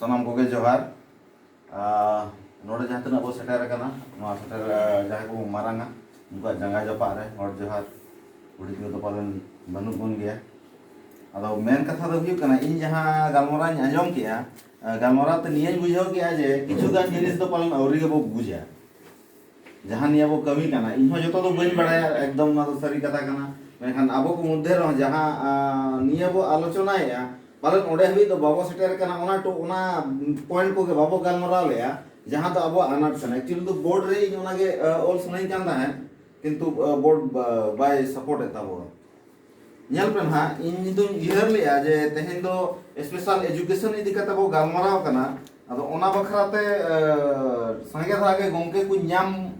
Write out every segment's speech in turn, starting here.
ᱥᱟᱱᱟᱢ ᱠᱚᱜᱮ ᱡᱚᱦᱟᱨ ᱱᱚᱰᱮ ᱡᱟᱦᱟᱸ ᱛᱤᱱᱟᱹᱜ ᱵᱚ ᱥᱮᱴᱮᱨ ᱟᱠᱟᱱᱟ ᱱᱚᱣᱟ ᱥᱮᱴᱮᱨ ᱡᱟᱦᱟᱸᱭ ᱠᱚᱵᱚ ᱢᱟᱨᱟᱝᱟ ᱩᱱᱠᱩᱣᱟᱜ ᱡᱟᱸᱜᱟ ᱡᱟᱯᱟᱜ ᱨᱮ ᱦᱚᱲ ᱡᱚᱦᱟᱨ ᱵᱩᱰᱷᱤ ᱛᱮᱠᱚ ᱫᱚ ᱯᱟᱞᱮᱱ ᱵᱟᱹᱱᱩᱜ ᱵᱚᱱ ᱜᱮᱭᱟ ᱟᱫᱚ ᱢᱮᱱ ᱠᱟᱛᱷᱟ ᱫᱚ ᱦᱩᱭᱩᱜ ᱠᱟᱱᱟ ᱤᱧ ᱡᱟᱦᱟᱸ ᱜᱟᱞᱢᱟᱨᱟᱣ ᱤᱧ ᱟᱸᱡᱚᱢ ᱠᱮᱜᱼᱟ ᱜᱟᱞᱢᱟᱨᱟᱣ ᱛᱮ ᱱᱤᱭᱟᱹᱧ ᱵᱩᱡᱷᱟᱹᱣ ᱠᱮᱜᱼᱟ ᱡᱮ ᱠᱤᱪᱷᱩ ᱜᱟᱱ ᱡᱤᱱᱤᱥ ᱫᱚ ᱯᱟᱞᱮᱱ ᱟᱹᱣᱨᱤ ᱜᱮᱵᱚ ᱵᱩᱡᱟ ᱡᱟᱦᱟᱸ ᱱᱤᱭᱟᱹ ᱵᱚ ᱠᱟᱹᱢᱤ ᱠᱟᱱᱟ ᱤᱧ ᱦᱚᱸ ᱡᱚᱛᱚ ᱫᱚ ᱵᱟᱹᱧ ᱵᱟᱲᱟᱭᱟ ᱮᱠᱫᱚᱢ ᱚᱱᱟ ᱫᱚ ᱥᱟᱹᱨᱤ ᱠᱟᱛᱷᱟ ᱠᱟᱱᱟ ᱢᱮᱱᱠᱷᱟᱱ ᱟᱵᱚ ᱠᱚ ᱢᱚᱫᱽᱫᱷᱮ ᱨᱮᱦᱚᱸ ᱡᱟᱦᱟᱸ ᱱᱤᱭᱟᱹ ᱵᱚ ᱟᱞᱳᱪᱚᱱᱟᱭᱮᱜᱼᱟ ᱯᱟᱞᱮᱱ ᱚᱸᱰᱮ ᱦᱟᱹᱵᱤᱡ ᱫᱚ ᱵᱟᱵᱚ ᱥᱮᱴᱮᱨ ᱠᱟᱱᱟ ᱚᱱᱟ ᱴᱚ ᱚᱱᱟ ᱯᱚᱭᱮᱱᱴ ᱠᱚᱜᱮ ᱵᱟᱵᱚ ᱜᱟᱞᱢᱟᱨᱟᱣ ᱞᱮᱜᱼᱟ ᱡᱟᱦᱟᱸ ᱫᱚ ᱟᱵᱚᱣᱟᱜ ᱟᱱᱟᱴ ᱠᱟᱱᱟ ᱮᱠᱪᱩᱭᱮᱞᱤ ᱫᱚ ᱵᱳᱨᱰ ᱨᱮ ᱤᱧ ᱚᱱᱟᱜᱮ ᱚᱞ ᱥᱟᱱᱟᱧ ᱠᱟᱱ ᱛᱟᱦᱮᱸᱫ ᱠᱤᱱᱛᱩ ᱵᱳᱨᱰ ᱵᱟᱭ ᱥᱟᱯᱳᱨᱴ ᱮᱫ ᱛᱟᱵᱚᱱᱟ ᱧᱮᱞ ᱯᱮ ᱱᱟᱦᱟᱜ ᱤᱧ ᱫᱚᱧ ᱩᱭᱦᱟᱹᱨ ᱞᱮᱜᱼᱟ ᱡᱮ ᱛᱮᱦᱮᱧ ᱫᱚ ᱥᱯᱮᱥᱟᱞ ᱮᱡᱩᱠᱮᱥᱚᱱ ᱤᱫᱤ ᱠᱟᱛᱮ ᱵᱚ ᱜᱟᱞᱢᱟᱨᱟᱣ ᱠᱟᱱᱟ ᱟᱫᱚ ᱚᱱᱟ ᱵᱟᱠᱷᱨᱟ ᱛᱮ ᱥᱟᱸᱜᱮ ᱫᱷᱟᱨᱟ ᱜᱮ ᱜᱚᱢᱠᱮ ᱠᱚ ᱧᱟᱢ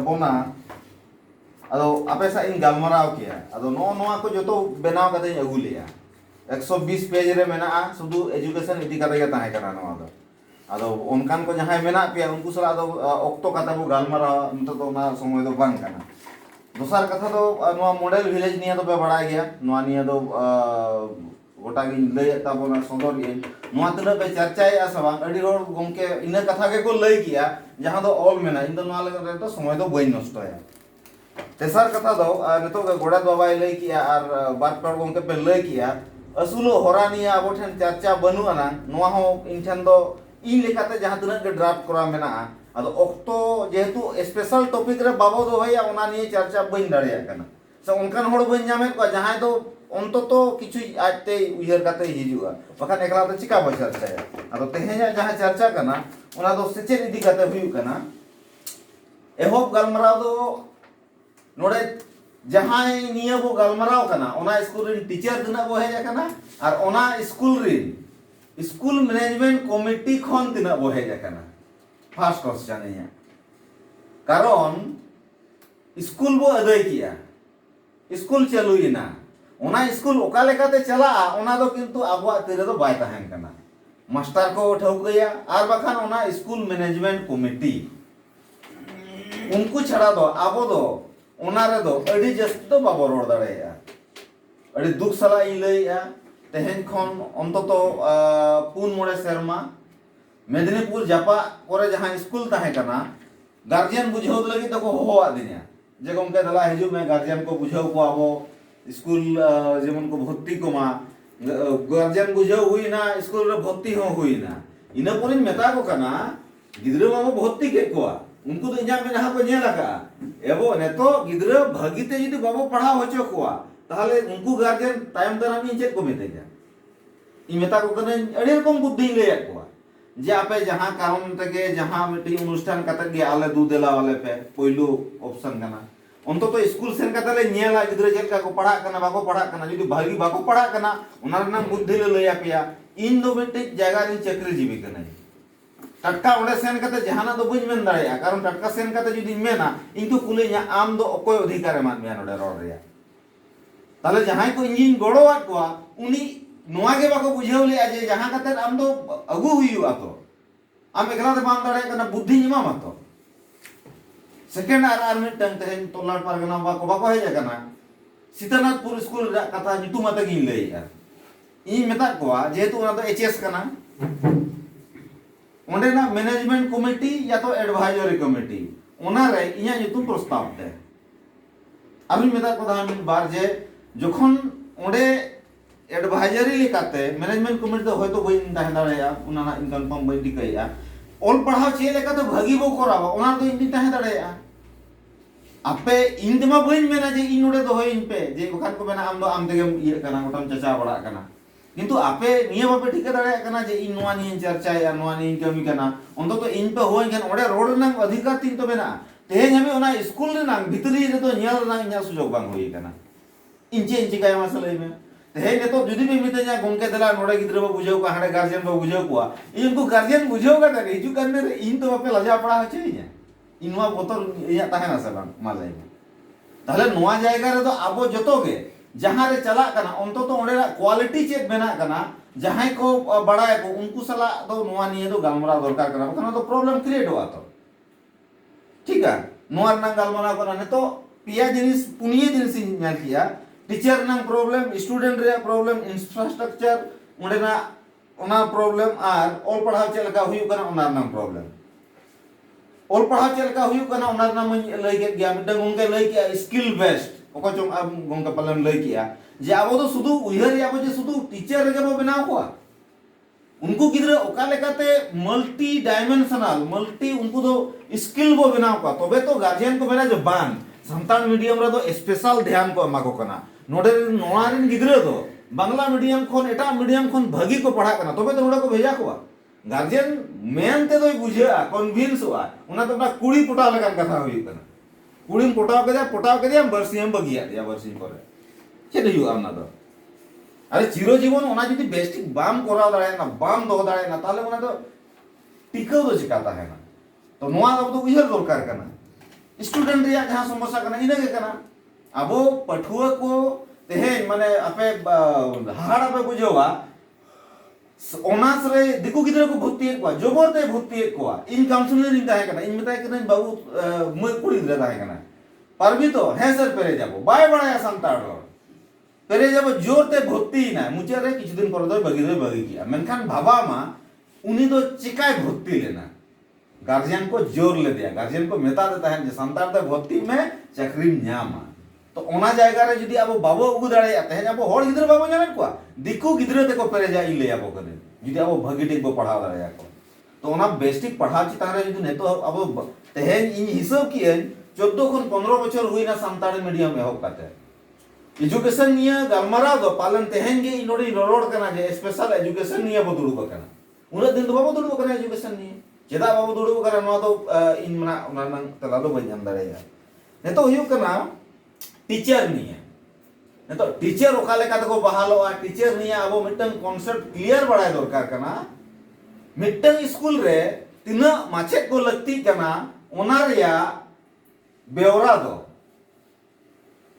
ᱵᱚᱱᱟ ᱟᱫᱚ ᱟᱯᱮ ᱥᱟᱜ ᱤᱧ ᱜᱟᱞᱢᱟᱨᱟᱣ ᱠᱮᱭᱟ ᱟᱫᱚ ᱱᱚᱜᱼᱚ ᱱᱚᱣᱟ ᱠᱚ ᱡᱚᱛᱚ ᱵᱮᱱᱟᱣ ᱠᱟᱛᱮᱧ ᱟᱹᱜᱩ ᱞᱮᱜᱼᱟ ᱮᱠᱥᱚ ᱵᱤᱥ ᱯᱮᱡᱽ ᱨᱮ ᱢᱮᱱᱟᱜᱼᱟ ᱥᱩᱫᱷᱩ ᱮᱡᱩᱠᱮᱥᱚᱱ ᱤᱫᱤ ᱠᱟᱛᱮ ᱜᱮ ᱛᱟᱦᱮᱸ ᱠᱟᱱᱟ ᱱᱚᱣᱟ ᱫᱚ ᱟᱫᱚ ᱚᱱᱠᱟᱱ ᱠᱚ ᱡᱟᱦᱟᱸᱭ ᱢᱮᱱᱟᱜ ᱯᱮᱭᱟ ᱩᱱᱠᱩ ᱥᱟᱞᱟᱜ ᱫᱚ ᱚᱠᱛᱚ ᱠᱟᱛᱮ ᱵᱚ ᱜᱟᱞᱢᱟᱨᱟᱣᱟ ᱱᱤᱛᱚᱜ ᱫᱚ ᱚᱱᱟ ᱥᱚᱢᱚᱭ ᱫᱚ ᱵᱟᱝ ᱠᱟᱱᱟ ᱫᱚᱥᱟᱨ ᱠᱟᱛᱷᱟ ᱫᱚ ᱱᱚᱣᱟ ᱢᱚᱰᱮᱞ ᱵᱷᱤᱞᱮᱡᱽ ᱱᱤᱭᱮ ᱫᱚᱯᱮ ᱵᱟᱲᱟᱭ ᱜᱮᱭᱟ ᱱᱚᱣᱟ ᱱᱤᱭᱮ ᱫᱚ ᱜᱚᱴᱟ ᱜᱤᱧ ᱞᱟᱹᱭᱮᱫ ᱛᱟᱵᱚᱱᱟ ᱥᱚᱫᱚᱨ ᱜᱤᱭᱟᱹᱧ ᱱᱚᱣᱟ ᱛᱤᱱᱟᱹᱜ ᱯᱮ ᱪᱟᱨᱪᱟᱭᱮᱫᱼᱟ ᱥᱮ ᱵᱟᱝ ᱟᱹᱰᱤ ᱦᱚᱲ ᱜᱚᱢᱠᱮ ᱤᱱᱟᱹ ᱠᱟᱛᱷᱟ ᱜᱮᱠᱚ ᱞᱟᱹᱭ ᱠᱮᱜᱼᱟ ᱡᱟᱦᱟᱸ ᱫᱚ ᱚᱞ ᱢᱮᱱᱟᱜᱼᱟ ᱤᱧ ᱫᱚ ᱱᱚᱣᱟ ᱞᱟᱹᱜᱤᱫ ᱛᱮᱫᱚ ᱥᱚᱢᱚᱭ ᱫᱚ ᱵᱟᱹᱧ ᱱᱚᱥᱴᱚᱭᱟ ᱛᱮᱥᱟᱨ ᱠᱟᱛᱷᱟ ᱫᱚ ᱱᱤᱛᱚᱜ ᱜᱮ ᱜᱚᱰᱮᱛ ᱵᱟᱵᱟᱭ ᱞᱟᱹᱭ ᱠᱮᱜᱼᱟ ᱟᱨ ᱵᱟᱨ ᱯᱮ ᱦᱚᱲ ᱜᱚᱢᱠᱮ ᱯᱮ ᱞᱟᱹᱭ ᱠᱮᱜᱼᱟ ᱟᱹᱥᱩᱞᱚᱜ ᱦᱚᱨᱟ ᱱᱤᱭᱮ ᱟᱵᱚ ᱴᱷᱮᱱ ᱪᱟᱨᱪᱟ ᱵᱟᱹᱱᱩᱜ ᱟᱱᱟᱝ ᱱᱚᱣᱟ ᱦᱚᱸ ᱤᱧ ᱴᱷᱮᱱ ᱫᱚ ᱤᱧ ᱞᱮᱠᱟᱛᱮ ᱡᱟᱦᱟᱸ ᱛᱤᱱᱟᱹᱜ ᱜᱮ ᱰᱨᱟᱯᱷᱴ ᱠᱚᱨᱟᱣ ᱢᱮᱱᱟᱜᱼᱟ ᱟᱫᱚ ᱚᱠᱛᱚ ᱡᱮᱦᱮᱛᱩ ᱥᱯᱮᱥᱟᱞ ᱴᱚᱯᱤᱠ ᱨᱮ ᱵᱟᱵᱚ ᱫᱚᱦᱚᱭᱮᱜᱼᱟ ᱚᱱᱟ ᱱᱤᱭᱮ ᱪᱟᱨᱪᱟ ᱵᱟᱹᱧ ᱫᱟᱲᱮᱭᱟᱜ ᱠᱟᱱᱟ ᱥᱮ ᱚᱱᱠᱟᱱ ᱦᱚᱲ ᱵᱟᱹᱧ ᱧᱟᱢᱮᱫ ᱠᱚᱣᱟ ᱡᱟᱦᱟᱸᱭ ᱫᱚ ᱚᱱᱛᱚᱛᱚ ᱠᱤᱪᱷᱩ ᱟᱡ ᱛᱮᱭ ᱩᱭᱦᱟᱹᱨ ᱠᱟᱛᱮ ᱦᱤᱡᱩᱜᱼᱟ ᱵᱟᱠᱷᱟᱱ ᱮᱠᱞᱟ ᱛᱮ ᱪᱤᱠᱟᱹ ᱵᱚ ᱪᱟᱨᱪᱟᱭᱟ ᱟᱫᱚ ᱛᱮᱦᱮᱧᱟᱜ ᱡᱟᱦᱟᱸ ᱪᱟᱨᱪᱟ ᱠᱟᱱᱟ ᱚᱱᱟ ᱫᱚ ᱥᱮᱪᱮᱫ ᱤᱫᱤ ᱠᱟᱛᱮ ᱦᱩᱭᱩᱜ ᱠᱟᱱᱟ ᱮᱦᱚᱵ ᱜᱟᱞᱢᱟᱨᱟᱣ ᱫᱚ ᱱᱚᱰᱮ ᱡᱟᱦᱟᱸᱭ ᱱᱤᱭᱟᱹ ᱵᱚ ᱜᱟᱞᱢᱟᱨᱟᱣ ᱠᱟᱱᱟ ᱚᱱᱟ ᱥᱠᱩᱞ ᱨᱮᱱ ᱴᱤᱪᱟᱨ ᱛᱤᱱᱟᱹᱜ ᱵᱚ ᱦᱮᱡ ᱟᱠᱟᱱᱟ ᱟᱨ ᱚᱱᱟ ᱥᱠᱩᱞ ᱨᱮᱱ ᱥᱠᱩᱞ ᱢᱮᱱᱮᱡᱢᱮᱱᱴ ᱠᱚᱢᱤᱴᱤ ᱠᱷᱚᱱ ᱛᱤᱱᱟᱹᱜ ᱵᱚ ᱦᱮᱡ ᱟᱠᱟᱱᱟ ᱯᱷᱟᱨᱥᱴ ᱠᱚᱥᱪᱟᱱ ᱤᱧᱟᱹᱜ ᱠᱟᱨᱚᱱ ᱥᱠᱩᱞ ᱵᱚ ᱟᱹᱫᱟᱹᱭ ᱠᱮᱜᱼᱟ ᱤᱥᱠᱩᱞ ᱪᱟᱹᱞᱩᱭ ᱮᱱᱟ᱾ ᱚᱱᱟ ᱤᱥᱠᱩᱞ ᱚᱠᱟ ᱞᱮᱠᱟᱛᱮ ᱪᱟᱞᱟᱜᱼᱟ ᱚᱱᱟ ᱫᱚ ᱠᱤᱱᱛᱩ ᱟᱵᱚᱣᱟᱜ ᱛᱤ ᱨᱮᱫᱚ ᱵᱟᱭ ᱛᱟᱦᱮᱸᱱ ᱠᱟᱱᱟ᱾ ᱢᱟᱥᱴᱟᱨ ᱠᱚ ᱴᱷᱟᱹᱣᱠᱟᱹᱭᱟ ᱟᱨ ᱵᱟᱠᱷᱟᱱ ᱚᱱᱟ ᱤᱥᱠᱩᱞ ᱢᱮᱱᱮᱡᱽᱢᱮᱱᱴ ᱠᱚᱢᱤᱴᱤ᱾ ᱩᱱᱠᱩ ᱪᱷᱟᱲᱟ ᱫᱚ ᱟᱵᱚ ᱫᱚ ᱚᱱᱟ ᱨᱮᱫᱚ ᱟᱹᱰᱤ ᱡᱟᱹᱥᱛᱤ ᱫᱚ ᱵᱟᱵᱚ ᱨᱚᱲ ᱫᱟᱲᱮᱭᱟᱜᱼᱟ᱾ ᱟᱹᱰᱤ ᱫᱩᱠ ᱥᱟᱞᱟᱜ ᱤᱧ ᱞᱟᱹᱭᱮᱫᱼᱟ ᱛᱮᱦᱮᱧ ᱠᱷᱚᱱ ᱚᱱᱛᱚᱛᱚ ᱯᱩᱱ ᱢᱚᱬᱮ ᱥᱮᱨᱢᱟ ᱢᱮᱫᱤᱱᱤᱯᱩᱨ ᱡᱟᱯᱟᱜ ᱠᱚᱨᱮ ᱡᱟᱦᱟᱸ ᱤᱥᱠᱩᱞ ᱛᱟᱦᱮᱸ ᱠᱟᱱᱟ ᱜᱟᱨᱡᱮᱱ ᱵᱩᱡᱷᱟᱹᱣ ᱞᱟᱹᱜᱤᱫ ᱛᱮᱠᱚ ᱦᱚᱦᱚ ᱟᱫᱤᱧᱟ ᱡᱮ ᱜᱚᱢᱠᱮ ᱫᱮᱞᱟ ᱦᱤᱡᱩᱜ ᱢᱮ ᱜᱟᱨᱡᱮᱱ ᱠᱚ ᱵᱩᱡᱷᱟᱹᱣ ᱠᱚᱣᱟ ᱵᱚ ᱤᱥᱠᱩᱞ ᱡᱮᱢᱚᱱ ᱠᱚ ᱵᱷᱚᱨᱛᱤ ᱠᱚᱢᱟ ᱜᱟᱨᱡᱮᱱ ᱵᱩᱡᱷᱟᱹᱣ ᱦᱩᱭᱱᱟ ᱤᱥᱠᱩᱞ ᱨᱮ ᱵᱷᱚᱨᱛᱤ ᱦᱚᱸ ᱦᱩᱭᱱᱟ ᱤᱱᱟᱹ ᱯᱚᱨᱮᱧ ᱢᱮᱛᱟ ᱠᱚ ᱠᱟᱱᱟ ᱜᱤᱫᱽᱨᱟᱹ ᱢᱟᱵᱚ ᱵᱷᱚᱨᱛᱤ ᱠᱮᱫ ᱠᱚᱣᱟ ᱩᱱᱠᱩ ᱫᱚ ᱤᱧᱟᱹᱜ ᱢᱮᱫᱦᱟ ᱠᱚ ᱧᱮᱞ ᱟᱠᱟᱫᱼᱟ ᱮᱵᱚ ᱱᱤᱛᱚᱜ ᱜᱤᱫᱽᱨᱟᱹ ᱵᱷᱟᱹᱜᱤᱛᱮ ᱡᱩᱫᱤ ᱵᱟᱵᱚ ᱯᱟᱲᱦᱟᱣ ᱦᱚᱪᱚ ᱠᱚᱣᱟ ᱛᱟᱦᱚᱞᱮ ᱩᱱᱠᱩ ᱜᱟᱨᱡᱮᱱ ᱛᱟᱭᱚᱢ ᱫᱟᱨᱟᱢ ᱤᱧ ᱪᱮᱫ ᱠᱚ ᱢᱤᱛᱟᱹᱧᱟ ᱤᱧ ᱢᱮᱛᱟ ᱠᱚ ᱠᱟᱹᱱᱟᱹᱧ ᱟᱹᱰᱤ ᱨᱚᱠᱚᱢ ᱵᱩᱫᱽᱫᱷᱤᱧ ᱞᱟᱹᱭᱟᱫ ᱠᱚᱣᱟ ᱡᱮ ᱟᱯᱮ ᱡᱟᱦᱟᱸ ᱠᱟᱨᱚᱱ ᱛᱮᱜᱮ ᱡᱟᱦᱟᱸ ᱢᱤᱫᱴᱤᱡ ᱚᱱᱩᱥᱴᱷᱟᱱ ᱠᱟᱛᱮᱫ ᱜᱮ ᱟᱞᱮ ᱫᱩ ᱫᱮᱞᱟ ᱟᱞᱮ ᱯᱮ ᱯᱳᱭᱞᱳ ᱚᱯᱥᱮᱱ ᱠᱟᱱᱟ ᱚᱱᱛᱚᱛᱚ ᱤᱥᱠᱩᱞ ᱥᱮᱱ ᱠᱟᱛᱮᱫ ᱞᱮ ᱧᱮᱞᱟ ᱜᱤᱫᱽᱨᱟᱹ ᱪᱮᱫ ᱞᱮᱠᱟ ᱠᱚ ᱯᱟᱲᱦᱟᱜ ᱠᱟᱱᱟ ᱵᱟᱠᱚ ᱯᱟᱲᱦᱟᱜ ᱠᱟᱱᱟ ᱡᱩᱫᱤ ᱵᱷᱟᱹᱜᱤ ᱵᱟᱠᱚ ᱯᱟᱲᱦᱟᱜ ᱠᱟᱱᱟ ᱚᱱᱟ ᱨᱮᱱᱟᱜ ᱵᱩᱫᱽᱫᱷᱤ ᱞᱮ ᱞᱟᱹᱭ ᱟᱯᱮᱭᱟ ᱤᱧ ᱫᱚ ᱢᱤᱫᱴᱤᱡ ᱡᱟᱭᱜᱟ ᱨᱮᱱ ᱪᱟᱹᱠᱨᱤ ᱡᱤᱵᱤ ᱠᱟᱹᱱᱟᱹᱧ ᱴᱟᱴᱠᱟ ᱚᱸᱰᱮ ᱥᱮᱱ ᱠᱟᱛᱮᱫ ᱡᱟᱦᱟᱱᱟᱜ ᱫᱚ ᱵᱟᱹᱧ ᱢᱮᱱ ᱫᱟᱲᱮᱭᱟᱜᱼᱟ ᱠᱟᱨᱚᱱ ᱴᱟᱴᱠᱟ ᱥᱮᱱ ᱠᱟᱛᱮᱫ ᱡᱩᱫᱤᱧ ᱢᱮᱱᱟ ᱤᱧ ᱠᱚ ᱠᱩᱞᱤᱧᱟ ᱟᱢ ᱫᱚ ᱚᱠᱚᱭ ᱚᱫᱷᱤᱠᱟᱨ ᱮ ᱮᱢᱟᱫ ᱢᱮᱭᱟ ᱱᱚᱸᱰᱮ ᱨᱚᱲ ᱨᱮᱭᱟᱜ ᱛᱟᱦᱞᱮ ᱡᱟᱦᱟᱸᱭ ᱠᱚ ᱤᱧᱤᱧ ᱜᱚᱲᱚᱣᱟᱫ ᱠᱚᱣᱟ ᱩᱱᱤ ᱱᱚᱣᱟ ᱜᱮ ᱵᱟᱠᱚ ᱵᱩᱡᱷᱟᱹᱣ ᱞᱮᱜᱼᱟ ᱡᱮ ᱡᱟᱦᱟᱸ ᱠᱟᱛᱮ ᱟᱢ ᱫᱚ ᱟᱹᱜᱩ ᱦᱩᱭᱩᱜᱼᱟ ᱛᱚ ᱟᱢ ᱮᱠᱞᱟ ᱫᱚ ᱵᱟᱢ ᱫᱟᱲᱮᱭᱟᱜ ᱠᱟᱱᱟ ᱵᱩᱫᱽᱫᱷᱤᱧ ᱮᱢᱟᱢᱟ ᱛᱚ ᱥᱮᱠᱮᱱᱰ ᱟᱨ ᱟᱨ ᱢᱤᱫᱴᱟᱝ ᱛᱮᱦᱮᱧ ᱛᱚᱞᱞᱟᱴ ᱯᱟᱨᱜᱟᱱᱟ ᱵᱟᱠᱚ ᱵᱟᱠᱚ ᱦᱮᱡ ᱟᱠᱟᱱᱟ ᱥᱤᱛᱟᱱᱟᱛᱷᱯᱩᱨ ᱥᱠᱩᱞ ᱨᱮᱭᱟᱜ ᱠᱟᱛᱷᱟ ᱧᱩᱛᱩᱢ ᱟᱛᱮ ᱜᱤᱧ ᱞᱟᱹᱭᱮᱜᱼᱟ ᱤᱧ ᱢᱮᱛᱟᱫ ᱠᱚᱣᱟ ᱡᱮᱦᱮᱛᱩ ᱚᱱᱟ ᱫᱚ ᱮᱪ ᱮᱥ ᱠᱟᱱᱟ ᱚᱸᱰᱮᱱᱟᱜ ᱢᱮᱱᱮᱡᱽᱢᱮᱱᱴ ᱠᱚᱢᱤᱴᱤ ᱭᱟᱛᱚ ᱮᱰᱵᱷᱟᱭᱡᱟᱨᱤ ᱠᱚᱢᱤᱴᱤ ᱚᱱᱟᱨᱮ ᱤᱧᱟᱹᱜ ᱧᱩᱛᱩᱢ ᱯᱨᱚᱥᱛᱟᱵᱽ ᱯᱮ ᱟᱨᱦᱚᱸᱧ ᱢᱮᱛᱟᱫ ᱠᱚ ᱛᱟᱦᱮᱸᱫ ᱢᱤᱫ ᱵᱟᱨ ᱡᱮ ᱡᱚᱠᱷᱚᱱ ᱚᱸᱰᱮ ᱮᱰᱵᱷᱟᱭᱡᱟᱨᱤ ᱞᱮᱠᱟᱛᱮ ᱢᱮᱱᱮᱡᱽᱢᱮᱱᱴ ᱠᱚᱢᱤᱴᱤ ᱫᱚ ᱦᱚᱭᱛᱳ ᱵᱟᱹᱧ ᱛᱟᱦᱮᱸ ᱫᱟᱲᱮᱭᱟᱜᱼᱟ ᱚᱱᱟ ᱱᱟᱜ ᱤᱧ ᱠᱚᱱᱯᱷᱟᱨᱢ ᱵᱟᱹᱧ ᱴᱷᱤᱠᱟᱹᱭᱮᱫᱼᱟ ᱚᱞ ᱯᱟᱲᱦᱟᱣ ᱪᱮᱫ ᱞᱮᱠᱟᱛᱮ ᱵᱷᱟᱹᱜᱤ ᱵᱚ ᱠᱚᱨᱟᱣᱟ ᱚᱱᱟ ᱨᱮᱫᱚ ᱤᱧ ᱫᱚᱧ ᱛᱟᱦᱮᱸ ᱫᱟᱲᱮᱭᱟᱜᱼᱟ ᱟᱯᱮ ᱤᱧ ᱛᱮᱢᱟ ᱵᱟᱹᱧ ᱢᱮᱱᱟ ᱡᱮ ᱤᱧ ᱱᱚᱰᱮ ᱫᱚᱦᱚᱭᱤᱧ ᱯᱮ ᱡᱮ ᱵᱟᱠᱷᱟᱱ ᱠᱚ ᱢᱮᱱᱟ ᱟᱢ ᱫᱚ ᱟᱢ ᱛᱮᱜᱮᱢ ᱤᱭᱟᱹᱜ ᱠᱟᱱᱟ ᱜᱚᱴᱟᱢ ᱪᱟᱪᱟᱣ ᱵᱟᱲᱟᱜ ᱠᱟᱱᱟ ᱠᱤᱱᱛᱩ ᱟᱯᱮ ᱱᱤᱭᱟᱹ ᱵᱟᱯᱮ ᱴᱷᱤᱠᱟᱹ ᱫᱟᱲᱮᱭᱟᱜ ᱠᱟᱱᱟ ᱡᱮ ᱤᱧ ᱱᱚᱣᱟ ᱱᱤᱭᱟᱹᱧ ᱪᱟᱨᱪᱟᱭᱮᱜᱼᱟ ᱱᱚᱣᱟ ᱱᱤᱭᱟᱹᱧ ᱠᱟᱹᱢᱤ ᱠᱟᱱᱟ ᱚᱱᱛᱚᱛᱚ ᱤᱧ ᱯᱮ ᱦᱚᱦᱚᱣᱟᱹᱧ ᱠᱷᱟᱱ ᱚᱸᱰᱮ ᱨᱚᱲ ᱨᱮᱱᱟᱜ ᱚᱫᱷᱤᱠᱟᱨ ᱛᱤᱧ ᱛᱚ ᱢᱮᱱᱟᱜᱼᱟ ᱛᱮᱦᱮᱧ ᱦᱟᱹᱵᱤᱡ ᱚᱱᱟ ᱥᱠᱩᱞ ᱨᱮᱱᱟᱜ ᱵᱷᱤᱛᱨᱤ ᱨᱮᱫᱚ ᱧᱮᱞ ᱨᱮᱱᱟᱜ ᱤᱧᱟᱹᱜ ᱥᱩᱡᱳᱜᱽ ᱵᱟᱝ ᱦᱩᱭ ᱟᱠᱟᱱᱟ ᱤᱧ ᱪᱮᱫ ᱤᱧ ᱪᱤᱠᱟᱹᱭᱟ ᱢᱟᱥᱮ ᱞᱟᱹᱭ ᱢᱮ ᱛᱮᱦᱮᱧ ᱱᱤᱛᱚᱜ ᱡᱩᱫᱤ ᱯᱮ ᱢᱤᱛᱟᱹᱧᱟ ᱜᱚᱢᱠᱮ ᱫᱮᱞᱟ ᱱᱚᱰᱮ ᱜᱤᱫᱽᱨᱟᱹ ᱵᱚ ᱵᱩᱡᱷᱟᱹᱣ ᱠᱚᱣᱟ ᱦᱟᱸᱰᱮ ᱜᱟᱨᱡᱮᱱ ᱵᱚ ᱵᱩᱡᱷᱟᱹᱣ ᱠᱚᱣᱟ ᱤᱧ ᱩᱱᱠᱩ ᱜᱟᱨᱡᱮᱱ ᱵᱩᱡᱷᱟᱹᱣ ᱠᱟᱛᱮ ᱦᱤᱡᱩᱜ ᱠᱟᱱ ᱫᱤᱱ ᱨᱮ ᱤᱧ ᱛᱚ ᱵᱟᱯᱮ ᱞᱟᱡᱟᱣ ᱯᱟᱲᱟᱣ ᱦᱚᱪᱚᱭᱤᱧᱟ ᱤᱧ ᱱᱚᱣᱟ ᱵᱚᱛᱚᱨ ᱤᱧᱟᱹᱜ ᱛᱟᱦᱮᱱᱟ ᱥᱮ ᱵᱟᱝ ᱢᱟ ᱞᱟᱹᱭ ᱢᱮ ᱛᱟᱦᱞᱮ ᱱᱚᱣᱟ ᱡᱟᱭᱜᱟ ᱨᱮᱫᱚ ᱟᱵᱚ ᱡᱚᱛᱚ ᱜᱮ ᱡᱟᱦᱟᱸ ᱨᱮ ᱪᱟᱞᱟᱜ ᱠᱟᱱᱟ ᱚᱱᱛᱚᱛᱚ ᱚᱸᱰᱮᱱᱟᱜ ᱠᱣᱟᱞᱤᱴᱤ ᱪᱮᱫ ᱢᱮᱱᱟᱜ ᱠᱟᱱᱟ ᱡᱟᱦᱟᱸᱭ ᱠᱚ ᱵᱟᱲᱟᱭᱟᱠᱚ ᱩᱱᱠᱩ ᱥᱟᱞᱟᱜ ᱫᱚ ᱱᱚᱣᱟ ᱱᱤᱭᱮ ᱫᱚ ᱜᱟᱞᱢᱟᱨᱟᱣ ᱫᱚᱨᱠᱟᱨ ᱠᱟᱱᱟ ᱵᱟᱠᱷᱟᱱ ᱱᱚᱣᱟ ᱫᱚ ᱯᱨᱚᱵᱞᱮᱢ ᱠᱨᱤᱭᱮᱴᱚᱜᱼᱟ ᱛᱚ ᱴᱷᱤᱠ ᱟ ᱱᱚᱣᱟ ᱨᱮᱱᱟᱜ ᱜᱟᱞᱢᱟᱨᱟᱣ ᱠᱟᱱᱟ ᱱᱤᱛᱚᱜ ᱯᱮᱭᱟ ᱡᱤᱱᱤᱥ ᱯᱩᱱᱭᱟᱹ ᱡᱤᱱᱤᱥ ᱤᱧ ᱧᱮᱞ ᱠᱮᱜᱼᱟ ᱴᱤᱪᱟᱨ ᱨᱮᱱᱟᱜ ᱯᱨᱚᱵᱞᱮᱢ ᱥᱴᱩᱰᱮᱱᱴ ᱨᱮᱭᱟᱜ ᱯᱨᱚᱵᱞᱮᱢ ᱤᱱᱯᱷᱨᱟᱥᱴᱨᱟᱠᱪᱟᱨ ᱚᱸᱰᱮᱱᱟᱜ ᱚᱱᱟ ᱯᱨᱚᱵᱞᱮᱢ ᱟᱨ ᱚᱞ ᱯᱟᱲᱦᱟᱣ ᱪᱮᱫ ᱞᱮᱠᱟ ᱦᱩᱭᱩᱜ ᱠᱟᱱᱟ ᱚᱱᱟ ᱨᱮᱱᱟᱜ ᱯᱨᱚᱵᱞᱮᱢ ᱚᱞ ᱯᱟᱲᱦᱟᱣ ᱪᱮᱫ ᱞᱮᱠᱟ ᱦᱩᱭᱩᱜ ᱠᱟᱱᱟ ᱚᱱᱟ ᱨᱮᱱᱟᱜ ᱢᱟᱹᱧ ᱞᱟᱹᱭ ᱠᱮᱫ ᱜᱮᱭᱟ ᱢᱤᱫᱴᱟᱝ ᱜᱚᱝᱠᱮ ᱞᱟᱹᱭ ᱠᱮᱫᱼᱟ ᱥᱠᱤᱞ ᱵᱮᱥᱰ ᱚᱠᱚᱭ ᱪᱚᱝ ᱟᱢ ᱜᱚᱝᱠᱮ ᱯᱟᱞᱮᱢ ᱞᱟᱹᱭ ᱠᱮᱫᱼᱟ ᱡᱮ ᱟᱵᱚ ᱫᱚ ᱥᱩᱫᱷᱩ ᱩᱭᱦᱟᱹᱨ ᱮᱫᱼᱟ ᱵᱚ ᱡᱮ ᱥᱩᱫᱷᱩ ᱴᱤᱪᱟᱨ ᱨᱮᱜᱮ ᱵᱚ ᱵᱮᱱᱟᱣ ᱠᱚᱣᱟ ᱩᱱᱠᱩ ᱜᱤᱫᱽᱨᱟᱹ ᱚᱠᱟ ᱞᱮᱠᱟᱛᱮ ᱢᱟᱞᱴᱤ ᱰᱟᱭᱢᱮᱱᱥᱚᱱᱟᱞ ᱢᱟᱞᱴᱤ ᱩᱱᱠᱩ ᱫᱚ ᱥᱠᱤᱞ ᱵᱚ ᱵᱮᱱᱟᱣ ᱠᱚᱣᱟ ᱛᱚᱵᱮ ᱛᱚ ᱜᱟᱨᱡᱮᱱ ᱠᱚ ᱢᱮᱱᱟ ᱡᱮ ᱵᱟᱝ ᱥᱟᱱᱛᱟᱲ ᱢᱤᱰᱤᱭᱟᱢ ᱨᱮᱫᱚ ᱥᱯᱮᱥᱟᱞ ᱫᱷᱮᱭᱟᱱ ᱠᱚ ᱮᱢᱟ ᱠᱚ ᱠᱟᱱᱟ ᱱᱚᱰᱮ ᱱᱚᱣᱟ ᱨᱮᱱ ᱜᱤᱫᱽᱨᱟᱹ ᱫᱚ ᱵᱟᱝᱞᱟ ᱢᱤᱰᱤᱭᱟᱢ ᱠᱷᱚᱱ ᱮᱴᱟᱜ ᱢᱤᱰᱤᱭᱟᱢ ᱠᱷᱚᱱ ᱵᱷᱟᱹᱜᱤ ᱠᱚ ᱯᱟᱲᱦᱟᱜ ᱠᱟᱱᱟ ᱛᱚᱵᱮ ᱛᱚ ᱱᱚᱰᱮ ᱠᱚ ᱵᱷᱮᱡᱟ ᱠᱚᱣᱟ ᱜᱟᱨᱡᱮᱱ ᱢᱮᱱ ᱛᱮᱫᱚᱭ ᱵᱩᱡᱷᱟᱹᱜᱼᱟ ᱠᱚᱱᱵᱷᱤᱱᱥᱚᱜᱼᱟ ᱚᱱᱟᱛᱮ ᱚᱱᱟ ᱠᱩᱲᱤ ᱯᱚᱴᱟᱣ ᱞᱮᱠᱟᱱ ᱠᱟᱛᱷᱟ ᱦᱩᱭᱩᱜ ᱠᱟᱱᱟ ᱠᱩᱲᱤᱢ ᱯᱚᱴᱟᱣ ᱠᱮᱫᱮᱭᱟ ᱯᱚᱴᱟᱣ ᱠᱮᱫᱮᱭᱟᱢ ᱵᱟᱹᱨᱥᱤᱧᱮᱢ ᱵᱟᱹᱜᱤᱭᱟᱫᱮᱭᱟ ᱵᱟᱹᱨᱥᱤᱧ ᱯᱚᱨᱮ ᱪᱮᱫ ᱦᱩᱭᱩᱜᱼᱟ ᱚᱱᱟ ᱫᱚ ᱟᱨ ᱪᱤᱨᱚ ᱡᱤᱵᱚᱱ ᱚᱱᱟ ᱡᱩᱫᱤ ᱵᱮᱥᱴᱷᱤᱠ ᱵᱟᱢ ᱠᱚᱨᱟᱣ ᱫᱟᱲᱮᱭᱟᱜᱼᱟ ᱵᱟᱢ ᱫᱚᱦᱚ ᱫᱟᱲᱮᱭᱟᱜᱼᱟ ᱛᱟᱦᱞᱮ ᱚᱱᱟ ᱫᱚ ᱴᱤᱠᱟᱹᱣ ᱫᱚ ᱪᱮᱠᱟ ᱛᱟᱦᱮᱱᱟ ᱛᱚ ᱱᱚᱣᱟ ᱟᱵᱚ ᱫᱚ ᱩᱭᱦᱟᱹᱨ ᱫᱚᱨᱠᱟᱨ ᱠᱟᱱᱟ ᱥᱴᱩᱰᱮᱱᱴ ᱨᱮᱭᱟᱜ ᱡᱟᱦᱟᱸ ᱥᱚᱢᱚᱥᱥᱟ ᱠᱟᱱᱟ ᱤᱱᱟᱹᱜᱮ ᱠᱟᱱᱟ ᱟᱵᱚ ᱯᱟᱹᱴᱷᱩᱣᱟᱹ ᱠᱚ ᱛᱮᱦᱮᱧ ᱢᱟᱱᱮ ᱟᱯᱮ ᱦᱟᱦᱟᱲᱟ ᱯᱮ ᱵᱩᱡᱷᱟᱹᱣᱟ ᱚᱱᱟᱨᱥ ᱨᱮ ᱫᱤᱠᱩ ᱜᱤᱫᱽᱨᱟᱹ ᱠᱚ ᱵᱷᱚᱨᱛᱤᱭᱮᱫ ᱠᱚᱣᱟ ᱡᱚᱵᱚᱨ ᱛᱮ ᱵᱷᱚᱨᱛᱤᱭᱮᱫ ᱠᱚᱣᱟ ᱤᱧ ᱠᱟᱣᱩᱱᱥᱤᱞᱤᱝ ᱨᱤᱧ ᱛᱟᱦᱮᱸ ᱠᱟᱱᱟ ᱤᱧ ᱢᱮᱛᱟᱭ ᱠᱟᱹᱱᱟᱹᱧ ᱵᱟᱹᱵᱩ ᱢᱟᱹᱭ ᱠᱩᱲᱤ ᱜᱤᱫᱽᱨᱟᱹ ᱛᱟᱦᱮᱸ ᱠᱟᱱᱟᱭ ᱯᱟᱨᱵᱤ ᱛᱚ ᱦᱮᱸ ᱥᱟᱨ ᱯᱮᱨᱮᱡ ᱟᱵᱚ ᱵᱟᱭ ᱵᱟᱲᱟᱭᱟ ᱥᱟᱱᱛᱟᱲ ᱨᱚᱲ ᱯᱮᱨᱮᱡ ᱟᱵᱚ ᱡᱳᱨ ᱛᱮ ᱵᱷᱚᱨᱛᱤᱭᱮᱱᱟᱭ ᱢᱩᱪᱟᱹᱫ ᱨᱮ ᱠᱤᱪᱷᱩ ᱫᱤᱱ ᱯᱚᱨᱮ ᱫᱚ ᱵᱟᱹᱜᱤ ᱫᱚᱭ ᱵᱟᱹᱜᱤ ᱠᱮᱜᱼᱟ ᱢᱮᱱᱠᱷᱟᱱ ᱵᱷᱟᱵᱟᱣ ᱢᱟ ᱩᱱᱤ ᱫᱚ ᱪᱤᱠᱟᱭ ᱵᱷᱚᱨᱛᱤ ᱞᱮᱱᱟ ᱜᱟᱨᱡᱮᱱ ᱠᱚ ᱡᱳᱨ ᱞᱮᱫᱮᱭᱟ᱾ ᱜᱟᱨᱡᱮᱱ ᱠᱚ ᱢᱮᱛᱟᱫᱮ ᱛᱟᱦᱮᱸᱫ ᱡᱮ ᱥᱟᱱᱛᱟᱲ ᱛᱮ ᱵᱷᱚᱨᱛᱤᱜ ᱢᱮ, ᱪᱟᱹᱠᱨᱤᱢ ᱧᱟᱢᱟ᱾ ᱛᱚ ᱚᱱᱟ ᱡᱟᱭᱜᱟ ᱨᱮ ᱡᱩᱫᱤ ᱟᱵᱚ ᱵᱟᱵᱚ ᱟᱹᱜᱩ ᱫᱟᱲᱮᱭᱟᱜᱼᱟ, ᱛᱮᱦᱮᱧ ᱟᱵᱚ ᱦᱚᱲ ᱜᱤᱫᱽᱨᱟᱹ ᱵᱟᱵᱚ ᱧᱟᱢᱮᱫ ᱠᱚᱣᱟ, ᱫᱤᱠᱩ ᱜᱤᱫᱽᱨᱟᱹ ᱛᱮᱠᱚ ᱯᱮᱨᱮᱡᱟ ᱤᱧ ᱞᱟᱹᱭ ᱟᱠᱚ ᱠᱟᱹᱱᱟᱹᱧ᱾ ᱡᱩᱫᱤ ᱟᱵᱚ ᱵᱷᱟᱹᱜᱤ ᱴᱷᱤᱠ ᱵᱚ ᱯᱟᱲᱦᱟᱣ ᱫᱟᱲᱮ ᱟᱠᱚᱣᱟ᱾ ᱛᱚ ᱚᱱᱟ ᱵᱮᱥ ᱴᱷᱤᱠ ᱯᱟᱲᱦᱟᱣ ᱪᱮᱛᱟᱱ ᱨᱮ ᱡᱩᱫᱤ ᱱᱤᱛᱚᱜ ᱟᱵᱚ ᱛᱮᱦᱮᱧ ᱤᱧ ᱦᱤᱥᱟᱹᱵᱽ ᱠᱮᱫ ᱟᱹᱧ ᱪᱳᱫᱽᱫᱳ ᱠᱷᱚᱱ ᱯᱚᱱᱨᱚ ᱵᱚᱪᱷᱚᱨ ᱦᱩᱭ ᱮᱱᱟ ᱥᱟᱱᱛᱟᱲᱤ ᱢᱤᱰᱤᱭᱟᱢ ᱮᱦᱚᱵ ᱠᱟᱛᱮ᱾ ᱮᱡᱩᱠᱮᱥᱚᱱ ᱱᱤᱭᱟᱹ ᱜᱟᱞᱢᱟᱨᱟᱣ ᱫᱚ ᱯᱟᱞᱮᱱ ᱛᱮᱦᱮᱧ ᱜᱮ ᱤᱧ ᱱᱚᱰᱮᱧ ᱨᱚᱨᱚᱲ ᱠᱟᱱᱟ ᱡᱮ ᱥᱯᱮᱥᱟᱞ ᱮᱡᱩᱠᱮᱥᱚᱱ ᱱᱤᱭᱟᱹ ᱵᱚ ᱫᱩᱲᱩᱵ ᱟᱠᱟᱱᱟ᱾ ᱩᱱᱟᱹᱜ ᱫᱤᱱ ᱫᱚ ᱵᱟᱵᱚ ᱫᱩᱲᱩᱵ ᱟᱠᱟᱱᱟ ᱮᱡᱩᱠᱮᱥᱚᱱ ᱱᱤᱭᱮ ᱪᱮᱫᱟᱜ ᱵᱟᱵᱚ ᱫᱩᱲᱩᱵ ᱟᱠᱟᱱᱟ ᱱᱚᱣᱟ ᱫᱚ ᱤᱧ ᱢᱟᱱᱟ ᱚᱱᱟ ᱨᱮᱱᱟᱜ ᱛᱮᱞᱟ ᱫᱚ ᱵᱟᱹᱧ ᱧᱟᱢ ᱫᱟᱲᱮᱭᱟᱜᱼᱟ ᱱᱤᱛᱚᱜ ᱦᱩᱭᱩᱜ ᱠᱟᱱᱟ ᱴᱤᱪᱟᱨ ᱱᱤᱭᱮ ᱱᱤᱛᱚᱜ ᱴᱤᱪᱟᱨ ᱚᱠᱟ ᱞᱮᱠᱟ ᱛᱮᱠᱚ ᱵᱟᱦᱟᱞᱚᱜᱼᱟ ᱴᱤᱪᱟᱨ ᱱᱤᱭᱮ ᱟᱵᱚ ᱢᱤᱫᱴᱟᱝ ᱠᱚᱱᱥᱮᱯᱴ ᱠᱞᱤᱭᱟᱨ ᱵᱟᱲᱟᱭ ᱫᱚᱨᱠᱟর ᱠᱟᱱᱟ ᱢᱤᱫᱴᱟᱝ ᱥᱠᱩᱞ ᱨᱮ ᱛᱤᱱᱟᱹᱜ ᱢᱟᱪᱮᱫ ᱠᱚ ᱞᱟᱹᱠᱛᱤᱜ ᱠᱟᱱᱟ ᱚᱱᱟ ᱨᱮᱭᱟᱜ ᱵᱮᱣᱨᱟ ᱫᱚ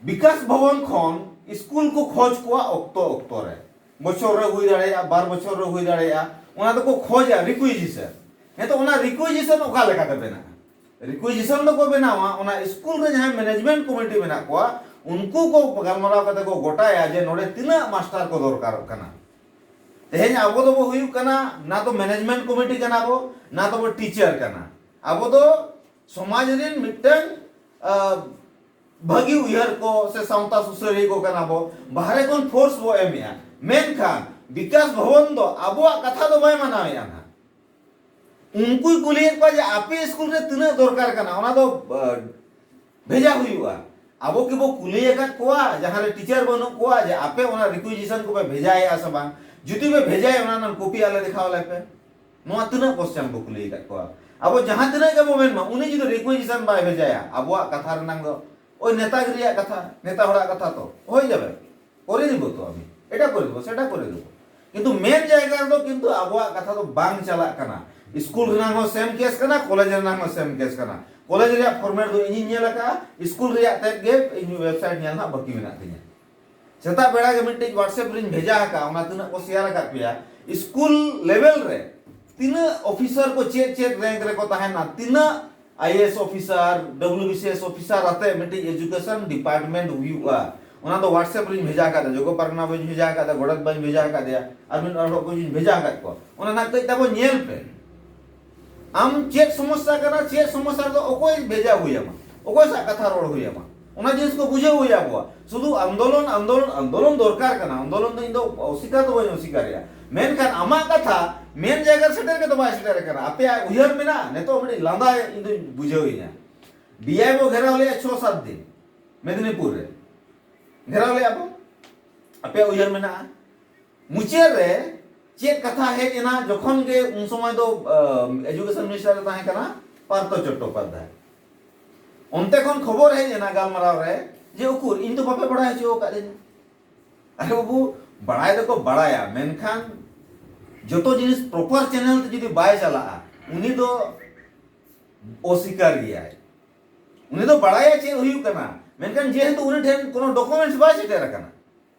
ᱵᱤᱠᱟᱥ ᱵᱷᱚᱵᱚᱱ ᱠᱷᱚᱱ ᱤᱥᱠᱩᱞ ᱠᱚ ᱠᱷᱚᱡᱽ ᱠᱚᱣᱟ ᱚᱠᱛᱚ ᱚᱠᱛᱚ ᱨᱮ᱾ ᱵᱚᱪᱷᱚᱨ ᱨᱮ ᱦᱩᱭ ᱫᱟᱲᱮᱭᱟᱜᱼᱟ, ᱵᱟᱨ ᱵᱚᱪᱷᱚᱨ ᱨᱮ ᱦᱩᱭ ᱫᱟᱲᱮᱭᱟᱜᱼᱟ, ᱚᱱᱟ ᱫᱚᱠᱚ ᱠᱷᱚᱡᱟ ᱨᱤᱠᱩᱭᱡᱤᱥᱚᱱ᱾ ᱦᱮᱸ ᱛᱚ ᱚᱱᱟ ᱨᱤᱠᱩᱭᱡᱤᱥᱚᱱ ᱚᱠᱟ ᱞᱮᱠᱟᱛᱮ ᱵᱮᱱᱟᱜᱼᱟ? ᱨᱤᱠᱩᱭᱡᱤᱥᱚᱱ ᱫᱚᱠᱚ ᱵᱮᱱᱟᱣᱟ ᱚᱱᱟ ᱤᱥᱠᱩᱞ ᱨᱮ ᱡᱟᱦᱟᱸᱭ ᱢᱮᱱᱮᱡᱽᱢᱮᱱᱴ ᱠᱚᱢᱤᱴᱤ ᱢᱮᱱᱟᱜ ᱠᱚᱣᱟ ᱩᱱᱠᱩ ᱠᱚ ᱜᱟᱞᱢᱟᱨᱟᱣ ᱠᱟᱛᱮ ᱠᱚ ᱜᱚᱴᱟᱭᱟ ᱡᱮ ᱱᱚᱰᱮ ᱛᱤᱱᱟᱹᱜ ᱢᱟᱥᱴᱟᱨ ᱠᱚ ᱫᱚᱨᱠᱟᱨᱚᱜ ᱠᱟᱱᱟ᱾ ᱛᱮᱦᱮᱧ ᱟᱵᱚ ᱫᱚᱵᱚ ᱦᱩᱭᱩᱜ ᱠᱟᱱᱟ ᱱᱟ ᱛᱚ ᱢᱮᱱᱮᱡᱽᱢᱮᱱᱴ ᱠᱚᱢᱤᱴᱤ ᱠᱟᱱᱟ ᱵᱚ ᱱᱟ ᱛᱚᱵᱚ ᱴᱤᱪᱟᱨ ᱠᱟᱱᱟ᱾ ᱟᱵᱚ ᱫᱚ ᱥᱚᱢᱟᱡᱽ ᱨᱮᱱ ᱢᱤᱫᱴᱟᱝ ᱵᱷᱟᱹᱜᱤ ᱩᱭᱦᱟᱹᱨ ᱠᱚ ᱥᱮ ᱥᱟᱶᱛᱟ ᱥᱩᱥᱟᱹᱨᱤᱭᱟᱹ ᱠᱚ ᱠᱟᱱᱟ ᱵᱚ ᱵᱟᱦᱨᱮ ᱠᱷᱚᱱ ᱯᱷᱳᱨᱥ ᱵᱚ ᱮᱢᱮᱜᱼᱟ ᱢᱮᱱᱠᱷᱟᱱ ᱵᱤᱠᱟᱥ ᱵᱷᱚᱵᱚᱱ ᱫᱚ ᱟᱵᱚᱣᱟᱜ ᱠᱟᱛᱷᱟ ᱫᱚ ᱵᱟᱭ ᱢᱟᱱᱟᱣᱮᱜᱼᱟ ᱱᱟᱦᱟᱜ ᱩᱱᱠᱩᱭ ᱠᱩᱞᱤᱭᱮᱫ ᱠᱚᱣᱟ ᱡᱮ ᱟᱯᱮ ᱥᱠᱩᱞ ᱨᱮ ᱛᱤᱱᱟᱹᱜ ᱫᱚᱨᱠᱟᱨ ᱠᱟᱱᱟ ᱚᱱᱟ ᱫᱚ ᱵᱷᱮᱡᱟ ᱦᱩᱭᱩᱜᱼᱟ ᱟᱵᱚ ᱠᱤ ᱵᱚ ᱠᱩᱞᱤ ᱟᱠᱟᱫ ᱠᱚᱣᱟ ᱡᱟᱦᱟᱸ ᱨᱮ ᱴᱤᱪᱟᱨ ᱵᱟᱹᱱᱩᱜ ᱠᱚᱣᱟ ᱡᱮ ᱟᱯᱮ ᱚᱱᱟ ᱨᱤᱠᱩᱭᱤᱡᱤᱥᱚᱱ ᱠᱚᱯᱮ ᱵᱷᱮᱡᱟᱭᱮᱜᱼᱟ ᱥᱮ ᱵᱟᱝ ᱡᱩᱫᱤ ᱯᱮ ᱵᱷᱮᱡᱟᱭᱮᱜᱼᱟ ᱚᱱᱟ ᱨᱮᱱᱟᱜ ᱠᱚᱯᱤ ᱟᱞᱮ ᱫᱮᱠᱷᱟᱣ ᱟᱞᱮᱯᱮ ᱱᱚᱣᱟ ᱛᱤᱱᱟᱹᱜ ᱠᱚᱥᱪᱟᱱ ᱵᱚ ᱠᱩᱞᱤ ᱟᱠᱟᱫ ᱠᱚᱣᱟ ᱟᱵᱚ ᱡᱟᱦᱟᱸ ᱛᱤᱱᱟᱹᱜ ᱜᱮᱵᱚ ᱢᱮᱱ ᱢᱟ ᱩᱱᱤ ᱡᱩᱫᱤ ᱨᱤᱠᱩᱭᱮᱥᱚᱱ ᱵᱟᱭ ᱵᱷᱮᱡᱟᱭᱟ ᱟᱵᱚᱣᱟᱜ ᱠᱟᱛᱷᱟ ᱨᱮᱱᱟᱝ ᱫᱚ ᱳᱭ ᱱᱮᱛᱟᱜᱤ ᱨᱮᱭᱟᱜ ᱠᱟᱛᱷᱟ ᱱᱮᱛᱟ ᱦᱚᱲᱟᱜ ᱠᱟᱛᱷᱟ ᱛᱚ ᱦᱳᱭ ᱡᱟᱵᱮ ᱠᱚᱨᱮ ᱫᱤᱵᱚ ᱛᱚ ᱟᱢ ᱮᱴᱟ ᱠᱚᱨᱮ ᱫᱤᱵᱚ ᱥᱮᱴᱟ ᱠᱚᱨᱮ ᱫᱤᱵᱚ ᱠᱤᱱᱛᱩ ᱢᱮᱱ ᱡᱟᱭᱜᱟ ᱨᱮᱫᱚ ᱠᱤᱱᱛᱩ ᱟᱵᱚᱣᱟᱜ ᱠᱟᱛᱷᱟ ᱫᱚ ᱵᱟᱝ ᱪᱟᱞᱟᱜ ᱠᱟᱱᱟ ᱥᱠᱩᱞ ᱨᱮᱱᱟᱝ ᱦᱚᱸ ᱥᱮᱢ ᱠᱮᱥ ᱠᱟᱱᱟ ᱠᱚᱞᱮᱡᱽ ᱨᱮᱱᱟᱝ ᱦᱚᱸ ᱥᱮᱢ ᱠᱮᱥ ᱠᱟᱱᱟ ᱠᱚᱞᱮᱡᱽ ᱨᱮᱭᱟᱜ ᱯᱷᱚᱨᱢᱮᱴ ᱫᱚ ᱤᱧᱤᱧ ᱧᱮᱞ ᱟᱠᱟᱫᱼᱟ ᱥᱠᱩᱞ ᱨᱮᱭᱟᱜ ᱛᱮᱫ ᱜᱮ ᱤᱧ ᱳᱭᱮᱵᱥᱟᱭᱤᱴ ᱧᱮᱞ ᱨᱮᱱᱟᱜ ᱵᱟᱹᱠᱤ ᱢᱮᱱᱟᱜ ᱛᱤᱧᱟᱹ ᱥᱮᱛᱟᱜ ᱵᱮᱲᱟ ᱜᱮ ᱢᱤᱫᱴᱤᱡ ᱣᱟᱴᱥᱮᱯ ᱨᱤᱧ ᱵᱷᱮᱡᱟ ᱟᱠᱟᱫ ᱚᱱᱟ ᱛᱤᱱᱟᱹᱜ ᱠᱚ ᱥᱮᱭᱟᱨ ᱟᱠᱟᱫ ᱯᱮᱭᱟ ᱥᱠᱩᱞ ᱞᱮᱵᱮᱞ ᱨᱮ ᱛᱤᱱᱟᱹᱜ ᱚᱯᱷᱤᱥᱟᱨ ᱠᱚ ᱪᱮᱫ ᱪᱮᱫ ᱨᱮᱝᱠ ᱨᱮᱠᱚ ᱛᱟᱦᱮᱱᱟ ᱛᱤᱱᱟᱹᱜ IAS officer W B C S officer ᱟᱛᱮ ᱢᱤᱫᱴᱤᱡ ᱮᱡᱩᱠᱮᱥᱚᱱ ᱰᱤᱯᱟᱨᱴᱢᱮᱱᱴ ᱦᱩᱭᱩᱜᱼᱟ ᱚᱱᱟ ᱫᱚ ᱣᱟᱴᱥᱮᱯ ᱨᱤᱧ ᱵᱷᱮᱡᱟ ᱟᱠᱟᱫ ᱡᱚᱜᱚ ᱯᱟᱨᱜᱟᱱᱟ ᱵᱟᱹᱧ ᱵᱷᱮᱡᱟ ᱟᱠᱟᱫ ᱜᱚᱰᱮᱛ ᱵᱟᱹᱧ ᱵᱷᱮᱡᱟ ᱟᱠᱟᱫᱮᱭᱟ ᱟᱨ ᱢᱤᱫ ᱦᱚᱲ ᱠᱚᱧ ᱵᱷᱮᱡᱟ ᱟᱠᱟᱫ ᱠᱚᱣᱟ ᱚᱱᱟ ᱱᱟᱜ ᱠᱟᱹᱡ ᱛᱟᱵᱚ ᱧᱮᱞ ᱯᱮ ᱟᱢ ᱪᱮᱫ ᱥᱚᱢᱚᱥᱥᱟ ᱠᱟᱱᱟ ᱪᱮᱫ ᱥᱚᱢᱚᱥᱥᱟ ᱨᱮᱫᱚ ᱚᱠᱚᱭ ᱵᱷᱮᱡᱟ ᱦᱩᱭ ᱟᱢᱟ ᱚᱠᱚᱭ ᱥᱟᱜ ᱠᱟᱛᱷᱟ ᱨᱚᱲ ᱦᱩᱭ ᱟᱢᱟ ᱚᱱᱟ ᱡᱤᱱᱤᱥ ᱠᱚ ᱵᱩᱡᱷᱟᱹᱣ ᱦᱩᱭ ᱟᱠᱚᱣᱟ ᱥᱩᱫᱷᱩ ᱟᱱᱫᱳᱞᱚᱱ ᱟᱱᱫᱳᱞᱚᱱ ᱟᱱᱫᱳᱞᱚᱱ ᱫᱚᱨᱠᱟᱨ ᱠᱟᱱᱟ ᱟᱱᱫᱳᱞᱚᱱ ᱫᱚ ᱤᱧ ᱫᱚ ᱚᱥᱤᱠᱟᱨ ᱫᱚ ᱵᱟᱹᱧ ᱚᱥᱤᱠᱟᱨᱮᱜᱼᱟ ᱢᱮᱱᱠᱷᱟᱱ ᱟᱢᱟᱜ ᱠᱟᱛᱷᱟ ᱢᱮᱱ ᱡᱟᱭᱜᱟ ᱨᱮ ᱥᱮᱴᱮᱨ ᱜᱮᱛᱚ ᱵᱟᱭ ᱥᱮᱴᱮᱨ ᱠᱟᱱᱟ ᱟᱯᱮᱭᱟᱜ ᱩᱭᱦᱟᱹᱨ ᱢᱮᱱᱟᱜᱼᱟ ᱱᱤᱛᱚᱜ ᱢᱤᱫᱴᱤᱡ ᱞᱟᱸᱫᱟ ᱤᱧ ᱫᱚᱧ ᱵᱩᱡᱷᱟᱹᱣ ᱤᱧᱟ ᱰᱤᱟᱭ ᱵᱚ ᱜᱷᱮᱨᱟᱣ ᱞᱮᱭᱟ ᱪᱷᱚ ᱥᱟᱛ ᱫᱤᱱ ᱢᱮᱫᱤᱱᱤᱯᱩᱨ ᱨᱮ ᱜᱷᱮᱨᱟᱣ ᱞᱮᱭᱟ ᱵᱚ ᱟᱯᱮᱭᱟᱜ ᱩᱭᱦᱟᱹᱨ ᱢᱮᱱᱟᱜᱼᱟ ᱢᱩᱪᱟᱹᱫ ᱨᱮ ᱪᱮᱫ ᱠᱟᱛᱷᱟ ᱦᱮᱡ ᱮᱱᱟ ᱡᱚᱠᱷᱚᱱ ᱜᱮ ᱩᱱ ᱥᱚᱢᱚᱭ ᱫᱚ ᱮᱡᱩᱠᱮᱥᱚᱱ ᱢᱤᱱᱤᱥᱴᱟᱨ ᱮ ᱛᱟᱦᱮᱸ ᱠᱟᱱᱟ ᱯᱟᱨᱛᱷᱚ ᱪᱚᱴᱴᱳᱯᱟᱫᱽᱫᱷᱟᱭ ᱚᱱᱛᱮ ᱠᱷᱚᱱ ᱠᱷᱚᱵᱚᱨ ᱦᱮᱡ ᱮᱱᱟ ᱜᱟᱞᱢᱟᱨᱟᱣ ᱨᱮ ᱡᱮ ᱩᱠᱩᱨ ᱤᱧ ᱫᱚ ᱵᱟᱯᱮ ᱵᱟᱲᱟᱭ ᱦᱚᱪᱚ ᱟᱠᱟᱫ ᱫᱤᱧᱟ ᱟᱨᱮ ᱵᱟᱹᱵᱩ ᱵᱟᱲᱟᱭ ᱫᱚᱠᱚ ᱵᱟᱲᱟᱭᱟ ᱢᱮᱱᱠᱷᱟᱱ ᱡᱚᱛᱚ ᱡᱤᱱᱤᱥ ᱯᱨᱚᱯᱟᱨ ᱪᱮᱱᱮᱞ ᱛᱮ ᱡᱩᱫᱤ ᱵᱟᱭ ᱪᱟᱞᱟᱜᱼᱟ ᱩᱱᱤ ᱫᱚ ᱚᱥᱤᱠᱟᱨ ᱜᱮᱭᱟᱭ ᱩᱱᱤ ᱫᱚ ᱵᱟᱲᱟᱭᱟ ᱪᱮᱫ ᱦᱩᱭᱩᱜ ᱠᱟᱱᱟ ᱢᱮᱱᱠᱷᱟᱱ ᱡᱮᱦᱮᱛᱩ ᱩᱱᱤ ᱴᱷᱮᱱ ᱠᱳᱱᱳ ᱰᱚᱠᱩᱢᱮᱱᱴᱥ ᱵᱟᱭ ᱥᱮᱴᱮᱨ ᱟᱠᱟᱱᱟ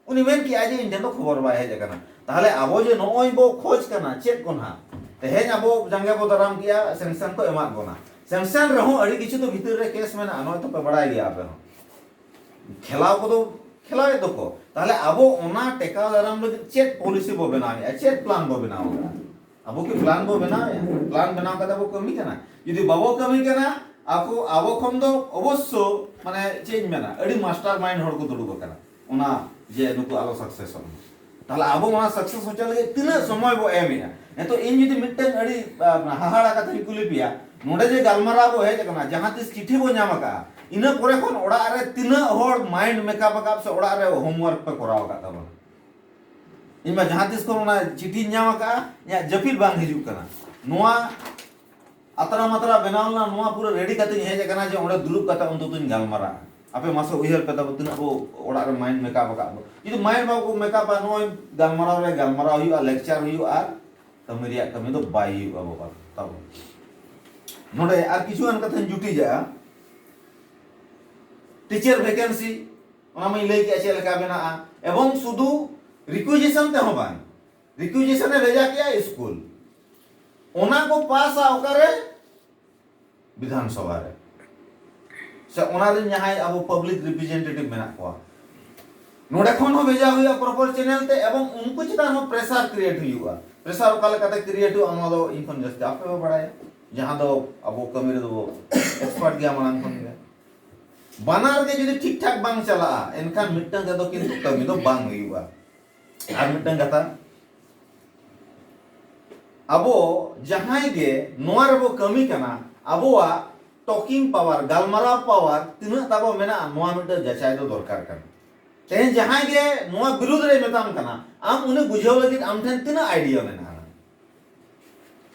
ᱩᱱᱤ ᱢᱮᱱ ᱠᱮᱜᱼᱟ ᱡᱮ ᱤᱧ ᱴᱷᱮᱱ ᱫᱚ ᱠᱷᱚᱵᱚᱨ ᱵᱟᱭ ᱦᱮᱡ ᱟᱠᱟᱱᱟ ᱛᱟᱦᱞᱮ ᱟᱵᱚ ᱡᱮ ᱱᱚᱜᱼᱚᱭ ᱵᱚ ᱠᱷᱚᱡᱽ ᱠᱟᱱᱟ ᱪᱮᱫ ᱠᱚ ᱱᱟᱦᱟᱜ ᱛᱮᱦᱮᱧ ᱟᱵᱚ ᱡᱟᱸᱜᱮ ᱵᱚ ᱫᱟᱨᱟᱢ ᱠᱮᱜᱼᱟ ᱥᱮᱝᱥᱚᱱ ᱠᱚ ᱮᱢᱟᱫ ᱵᱚᱱᱟ ᱥᱮᱝᱥᱚᱱ ᱨᱮᱦᱚᱸ ᱟᱹᱰᱤ ᱠᱤᱪᱷᱩ ᱫᱚ ᱵᱷᱤᱛᱤᱨ ᱨᱮ ᱠᱮᱥ ᱢᱮᱱᱟᱜᱼᱟ ᱱᱚᱜᱼᱚᱭ ᱛᱚᱯᱮ ᱵᱟᱲᱟᱭ ᱜᱮᱭᱟ ᱟᱯᱮ ᱦᱚᱸ ᱠᱷᱮᱞᱟᱣ ᱠᱚᱫᱚ ᱠᱷᱮᱞᱟᱣᱮᱫ ᱫᱚᱠᱚ ᱛᱟᱦᱞᱮ ᱟᱵᱚ ᱚᱱᱟ ᱴᱮᱠᱟᱣ ᱫᱟᱨᱟᱢ ᱞᱟᱹᱜᱤᱫ ᱪᱮᱫ ᱯᱚᱞᱤᱥᱤ ᱵᱚ ᱵᱮᱱᱟᱣᱮᱜᱼᱟ ᱪᱮᱫ ᱯᱞᱟᱱ ᱵᱚ ᱵᱮᱱᱟᱣᱮᱜᱼᱟ ᱟᱵᱚ ᱠᱤ ᱯᱞᱟᱱ ᱵᱚ ᱵᱮᱱᱟᱣᱮᱜᱼᱟ ᱯᱞᱟᱱ ᱵᱮᱱᱟᱣ ᱠᱟᱛᱮ ᱵᱚ ᱠᱟᱹᱢᱤ ᱠᱟᱱᱟ ᱡᱩᱫᱤ ᱵᱟᱵᱚ ᱠᱟᱹᱢᱤ ᱠᱟᱱᱟ ᱟᱵᱚ ᱟᱵᱚ ᱠᱷᱚᱱ ᱫᱚ ᱚᱵᱚᱥᱥᱚ ᱢᱟᱱᱮ ᱪᱮᱫ ᱤᱧ ᱢᱮᱱᱟ ᱟᱹᱰᱤ ᱢᱟᱥᱴᱟᱨ ᱢᱟᱭᱤᱱᱰ ᱦᱚᱲ ᱠᱚ ᱫᱩᱲᱩᱵ ᱟᱠᱟᱱᱟ ᱚᱱᱟ ᱡᱮ ᱱᱩᱠᱩ ᱟᱞᱚ ᱥᱟᱠᱥᱮᱥᱚᱜ ᱢᱟ ᱛᱟᱦᱚᱞᱮ ᱟᱵᱚ ᱚᱱᱟ ᱥᱟᱠᱥᱮᱥ ᱦᱚᱪᱚ ᱞᱟᱹᱜᱤᱫ ᱛᱤᱱᱟᱹᱜ ᱥᱚᱢᱚᱭ ᱵᱚ ᱮᱢᱮᱜᱼᱟ ᱱᱤᱛᱚᱜ ᱤᱧ ᱡᱩᱫᱤ ᱢᱤᱫᱴᱟᱝ ᱟᱹᱰᱤ ᱦᱟᱦᱟᱲᱟ ᱠᱟᱛᱷᱟᱧ ᱠᱩᱞᱤ ᱯᱮᱭᱟ ᱱᱚᱰᱮ ᱡᱮ ᱜᱟᱞᱢᱟᱨᱟᱣ ᱵᱚ ᱦᱮᱡ ᱟᱠᱟᱱᱟ ᱡᱟᱦᱟᱸ ᱛᱤᱥ ᱪᱤᱴᱷᱤ ᱵᱚ ᱧᱟᱢ ᱟᱠᱟᱜᱼᱟ ᱤᱱᱟᱹ ᱯᱚᱨᱮ ᱠᱷᱚᱱ ᱚᱲᱟᱜ ᱨᱮ ᱛᱤᱱᱟᱹᱜ ᱦᱚᱲ ᱢᱟᱭᱤᱱᱰ ᱢᱮᱠᱟᱯ ᱟᱠᱟᱫ ᱥᱮ ᱚᱲᱟᱜ ᱨᱮ ᱦᱳᱢᱣᱟᱨᱠ ᱯᱮ ᱠᱚᱨᱟᱣ ᱟᱠᱟᱫ ᱛᱟᱵᱚᱱᱟ ᱤᱧ ᱢᱟ ᱡᱟᱦᱟᱸ ᱛᱤᱥ ᱠᱷᱚᱱ ᱚᱱᱟ ᱪᱤᱴᱷᱤᱧ ᱧᱟᱢ ᱟᱠᱟᱜᱼᱟ ᱤᱧᱟᱹᱜ ᱡᱟᱹᱯᱤᱫ ᱵᱟᱝ ᱦᱤᱡᱩᱜ ᱠᱟᱱᱟ ᱱᱚᱣᱟ ᱟᱛᱨᱟ ᱢᱟᱛᱨᱟ ᱵᱮᱱᱟᱣ ᱞᱮᱱᱟ ᱱᱚᱣᱟ ᱯᱩᱨᱟᱹ ᱨᱮᱰᱤ ᱠᱟᱛᱮᱧ ᱦᱮᱡ ᱟᱠᱟᱱᱟ ᱡᱮ ᱚᱸᱰᱮ ᱫᱩᱲᱩᱵ ᱠᱟᱛᱮ ᱚᱱᱛᱚᱛᱚᱧ ᱜᱟᱞᱢᱟᱨᱟᱜᱼᱟ ᱟᱯᱮ ᱢᱟᱥᱮ ᱩᱭᱦᱟᱹᱨ ᱯᱮ ᱛᱟᱵᱚ ᱛᱤᱱᱟᱹᱜ ᱵᱚ ᱚᱲᱟᱜ ᱨᱮ ᱢᱟᱭᱤᱱᱰ ᱢᱮᱠᱟᱯ ᱟᱠᱟᱫ ᱟᱵᱚ ᱡᱩᱫᱤ ᱢᱟᱭᱤᱱᱰ ᱵᱟᱵᱚ ᱢᱮᱠᱟᱯᱟ ᱱᱚᱜᱼᱚᱭ ᱜᱟᱞᱢᱟᱨᱟᱣ ᱨᱮ ᱜᱟᱞᱢᱟᱨᱟᱣ ᱦᱩᱭᱩᱜᱼᱟ ᱞᱮᱠᱪᱟᱨ ᱦᱩᱭᱩᱜᱼᱟ ᱟᱨ ᱠᱟᱹᱢᱤ ᱨᱮᱭᱟᱜ ᱠᱟᱹᱢᱤ ᱫᱚ ᱵᱟᱭ ᱦᱩᱭᱩᱜᱼᱟ ᱵᱟᱵᱟ ᱛᱟᱵᱚ ᱱᱚᱰᱮ ᱟᱨ ᱠᱤᱪᱷᱩ ᱜᱟᱱ ᱠᱟᱛᱷᱟᱧ ᱡᱩᱴᱤᱡᱟ ᱴᱤᱪᱟᱨ ᱵᱷᱮᱠᱮᱱᱥᱤ ᱚᱱᱟ ᱢᱟᱹᱧ ᱞᱟᱹᱭ ᱠᱮᱫᱼᱟ ᱪᱮᱫ ᱞᱮᱠᱟ ᱢᱮᱱᱟᱜᱼᱟ ᱮᱵᱚᱝ ᱥᱩᱫᱷᱩ ᱨᱤᱠᱩᱭᱡᱮᱥᱚᱱ ᱛᱮᱦᱚᱸ ᱵᱟᱝ ᱨᱤᱠᱩᱭᱡᱮᱥᱚᱱ ᱮ ᱵᱷᱮᱡᱟ ᱠᱮᱜᱼᱟ ᱤᱥᱠᱩᱞ ᱚᱱᱟ ᱠᱚ ᱯᱟᱥᱟ ᱚᱠᱟᱨᱮ ᱵᱤᱫᱷᱟᱱ ᱥᱚᱵᱷᱟ ᱨᱮ ᱥᱮ ᱚᱱᱟ ᱨᱮᱱ ᱡᱟᱦᱟᱸᱭ ᱟᱵᱚ ᱯᱟᱵᱽᱞᱤᱠ ᱨᱤᱯᱨᱮᱡᱮᱱᱴᱮᱴᱤᱵᱷ ᱢᱮᱱᱟᱜ ᱠᱚᱣᱟ ᱱᱚᱰᱮ ᱠᱷᱚᱱ ᱦᱚᱸ ᱵᱷᱮᱡᱟ ᱦᱩᱭᱩᱜᱼᱟ ᱯᱨᱚᱯᱚᱨ ᱪᱮᱱᱮᱞ ᱛᱮ ᱮᱵᱚᱝ ᱩᱱᱠᱩ ᱪᱮᱛᱟᱱ ᱦᱚᱸ ᱯᱨᱮᱥᱟᱨ ᱠᱨᱤᱭᱮᱴ ᱦᱩᱭᱩᱜᱼᱟ ᱯᱨᱮᱥᱟᱨ ᱚᱠᱟ ᱞᱮᱠᱟᱛᱮ ᱠᱨᱤᱭᱮᱴ ᱦᱩᱭᱩᱜᱼᱟ ᱱᱚᱣᱟ ᱫᱚ ᱤᱧ ᱠᱷᱚᱱ ᱡᱟᱹᱥᱛᱤ ᱟᱯᱮ ᱯᱮ ᱵᱟᱲᱟᱭᱟ ᱡᱟᱦᱟᱸ ᱫᱚ ᱟᱵᱚ ᱠᱟᱹᱢᱤ ᱨᱮᱫᱚ ᱵᱚ ᱮᱠᱥᱯᱟᱨᱴ ᱜᱮᱭᱟ ᱢᱟᱲᱟᱝ ᱠᱷᱚᱱ ᱜᱮ ᱵᱟᱱᱟᱨ ᱜᱮ ᱡᱩᱫᱤ ᱴᱷᱤᱠ ᱴᱷᱟᱠ ᱵᱟᱝ ᱪᱟᱞᱟᱜᱼᱟ ᱮᱱᱠᱷᱟᱱ ᱢᱤᱫᱴᱟᱝ ᱛᱮᱫᱚ ᱠᱤᱱᱛᱩ ᱠᱟᱹᱢᱤ ᱫᱚ ᱵᱟᱝ ᱦᱩᱭᱩᱜᱼᱟ ᱟᱨ ᱢᱤᱫᱴᱟᱝ ᱠᱟᱛᱷᱟ ᱟᱵᱚ ᱡᱟᱦᱟᱸᱭ ᱜᱮ ᱱᱚᱣᱟ ᱨᱮᱵᱚ ᱠᱟᱹᱢᱤ ᱠᱟᱱᱟ ᱟᱵᱚᱣᱟᱜ ᱴᱚᱠᱤᱝ ᱯᱟᱣᱟᱨ ᱜᱟᱞᱢᱟᱨᱟᱣ ᱯᱟᱣᱟᱨ ᱛᱤᱱᱟᱹᱜ ᱛᱟᱵᱚ ᱢᱮᱱᱟᱜᱼᱟ ᱱᱚᱣᱟ ᱢᱤᱫᱴᱟᱝ ᱡᱟᱪᱟᱭ ᱫᱚ ᱫᱚᱨᱠᱟᱨ ᱠᱟᱱᱟ ᱛᱮᱦᱮᱧ ᱡᱟᱦᱟᱸᱭ ᱜᱮ ᱱᱚᱣᱟ ᱵᱤᱨᱩᱫᱷ ᱨᱮ ᱢᱮᱛᱟᱢ ᱠᱟᱱᱟ ᱟᱢ ᱩᱱᱤ ᱵᱩᱡᱷᱟᱹᱣ ᱞᱟᱹᱜᱤᱫ ᱟᱢ ᱴᱷᱮᱱ ᱛᱤᱱᱟᱹᱜ ᱟᱭᱰᱤᱭᱟ ᱢᱮᱱᱟᱜᱼᱟ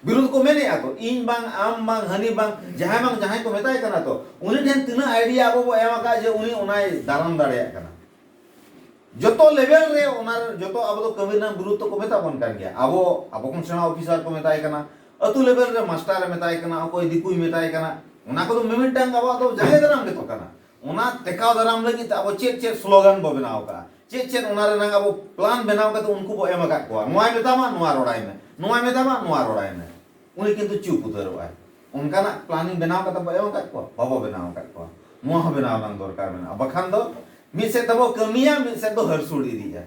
ᱵᱤᱨᱩᱫᱷ ᱠᱚ ᱢᱮᱱᱮᱜᱼᱟ ᱛᱚ ᱤᱧ ᱵᱟᱝ ᱟᱢ ᱵᱟᱝ ᱦᱟᱹᱱᱤ ᱵᱟᱝ ᱡᱟᱦᱟᱸᱭ ᱵᱟᱝ ᱡᱟᱦᱟᱸᱭ ᱠᱚ ᱢᱮᱛᱟᱭ ᱠᱟᱱᱟ ᱛᱚ ᱩᱱᱤ ᱴᱷᱮᱱ ᱛᱤᱱᱟᱹᱜ ᱟᱭᱰᱤᱭᱟ ᱟᱵᱚ ᱵᱚ ᱮᱢ ᱟᱠᱟᱫ ᱡᱮ ᱩᱱᱤ ᱚᱱᱟᱭ ᱫᱟᱨᱟᱢ ᱫᱟᱲᱮᱭᱟᱜ ᱠᱟᱱᱟ ᱡᱚᱛᱚ ᱞᱮᱵᱮᱞ ᱨᱮ ᱚᱱᱟ ᱡᱚᱛᱚ ᱟᱵᱚ ᱫᱚ ᱠᱟᱹᱢᱤ ᱨᱮᱱᱟᱜ ᱵᱤᱨᱩᱫᱷ ᱛᱚᱠᱚ ᱢᱮᱛᱟ ᱵᱚᱱ ᱠᱟᱱ ᱜᱮᱭᱟ ᱟᱵᱚ ᱟᱵᱚ ᱠᱷᱚᱱ ᱥᱮᱬᱟ ᱚᱯᱷᱤᱥᱟᱨ ᱠᱚ ᱢᱮᱛᱟᱭ ᱠᱟᱱᱟ ᱟᱹᱛᱩ ᱞᱮᱵᱮᱞ ᱨᱮ ᱢᱟᱥᱴᱟᱨᱮ ᱢᱮᱛᱟᱭ ᱠᱟᱱᱟ ᱚᱠᱚᱭ ᱫᱤᱠᱩᱭ ᱢᱮᱛᱟᱭ ᱠᱟᱱᱟ ᱚᱱᱟ ᱠᱚᱫᱚ ᱢᱤᱢᱤᱫᱴᱟᱝ ᱟᱵᱚᱣᱟᱜ ᱫᱚ ᱡᱟᱸᱜᱮ ᱫᱟᱨᱟᱢ ᱜᱮᱛᱚ ᱠᱟᱱᱟ ᱚᱱᱟ ᱴᱮᱠᱟᱣ ᱫᱟᱨᱟᱢ ᱞᱟᱹᱜᱤᱫ ᱛᱮ ᱟᱵᱚ ᱪᱮᱫ ᱪᱮᱫ ᱥᱞᱳᱜᱟᱱ ᱵᱚ ᱵᱮᱱᱟᱣ ᱟᱠᱟᱫᱼᱟ ᱪᱮᱫ ᱪᱮᱫ ᱚᱱᱟ ᱨᱮᱱᱟᱜ ᱟᱵᱚ ᱯᱞᱟᱱ ᱵᱮᱱᱟᱣ ᱠᱟᱛᱮ ᱩᱱᱠᱩ ᱵᱚ ᱮᱢ ᱟᱠᱟᱫ ᱠᱚᱣᱟ ᱱᱚᱣᱟᱭ ᱢᱮᱛᱟᱢᱟ ᱱᱚᱣᱟ ᱨᱚᱲᱟᱭ ᱢᱮ ᱱᱚᱣᱟᱭ ᱢᱮᱛᱟᱢᱟ ᱱᱚᱣᱟ ᱨᱚᱲᱟᱭ ᱢᱮ ᱩᱱᱤ ᱠᱤᱱᱛᱩ ᱪᱩᱯ ᱩᱛᱟᱹᱨᱚᱜᱼᱟᱭ ᱚᱱᱠᱟᱱᱟᱜ ᱯᱞᱟᱱᱤᱝ ᱵᱮᱱᱟᱣ ᱠᱟᱛᱮ ᱵᱚ ᱮᱢ ᱟᱠᱟᱫ ᱠᱚᱣᱟ ᱵᱟᱵᱚ ᱵᱮᱱᱟᱣ ᱟᱠᱟᱫ ᱠᱚᱣᱟ ᱱᱚᱣᱟ ᱦᱚᱸ ᱵᱮᱱᱟᱣ ᱨᱮᱱᱟᱜ ᱫᱚᱨᱠᱟᱨ ᱢᱮᱱᱟᱜᱼᱟ ᱵᱟᱠᱷᱟᱱ ᱫᱚ ᱢᱤᱫ ᱥᱮᱫ ᱛᱮᱵᱚ ᱠᱟᱹᱢᱤᱭᱟ ᱢᱤᱫ ᱥᱮᱫ ᱫᱚ ᱦᱟᱹᱨᱥᱩᱲ ᱤᱫᱤᱜᱼᱟ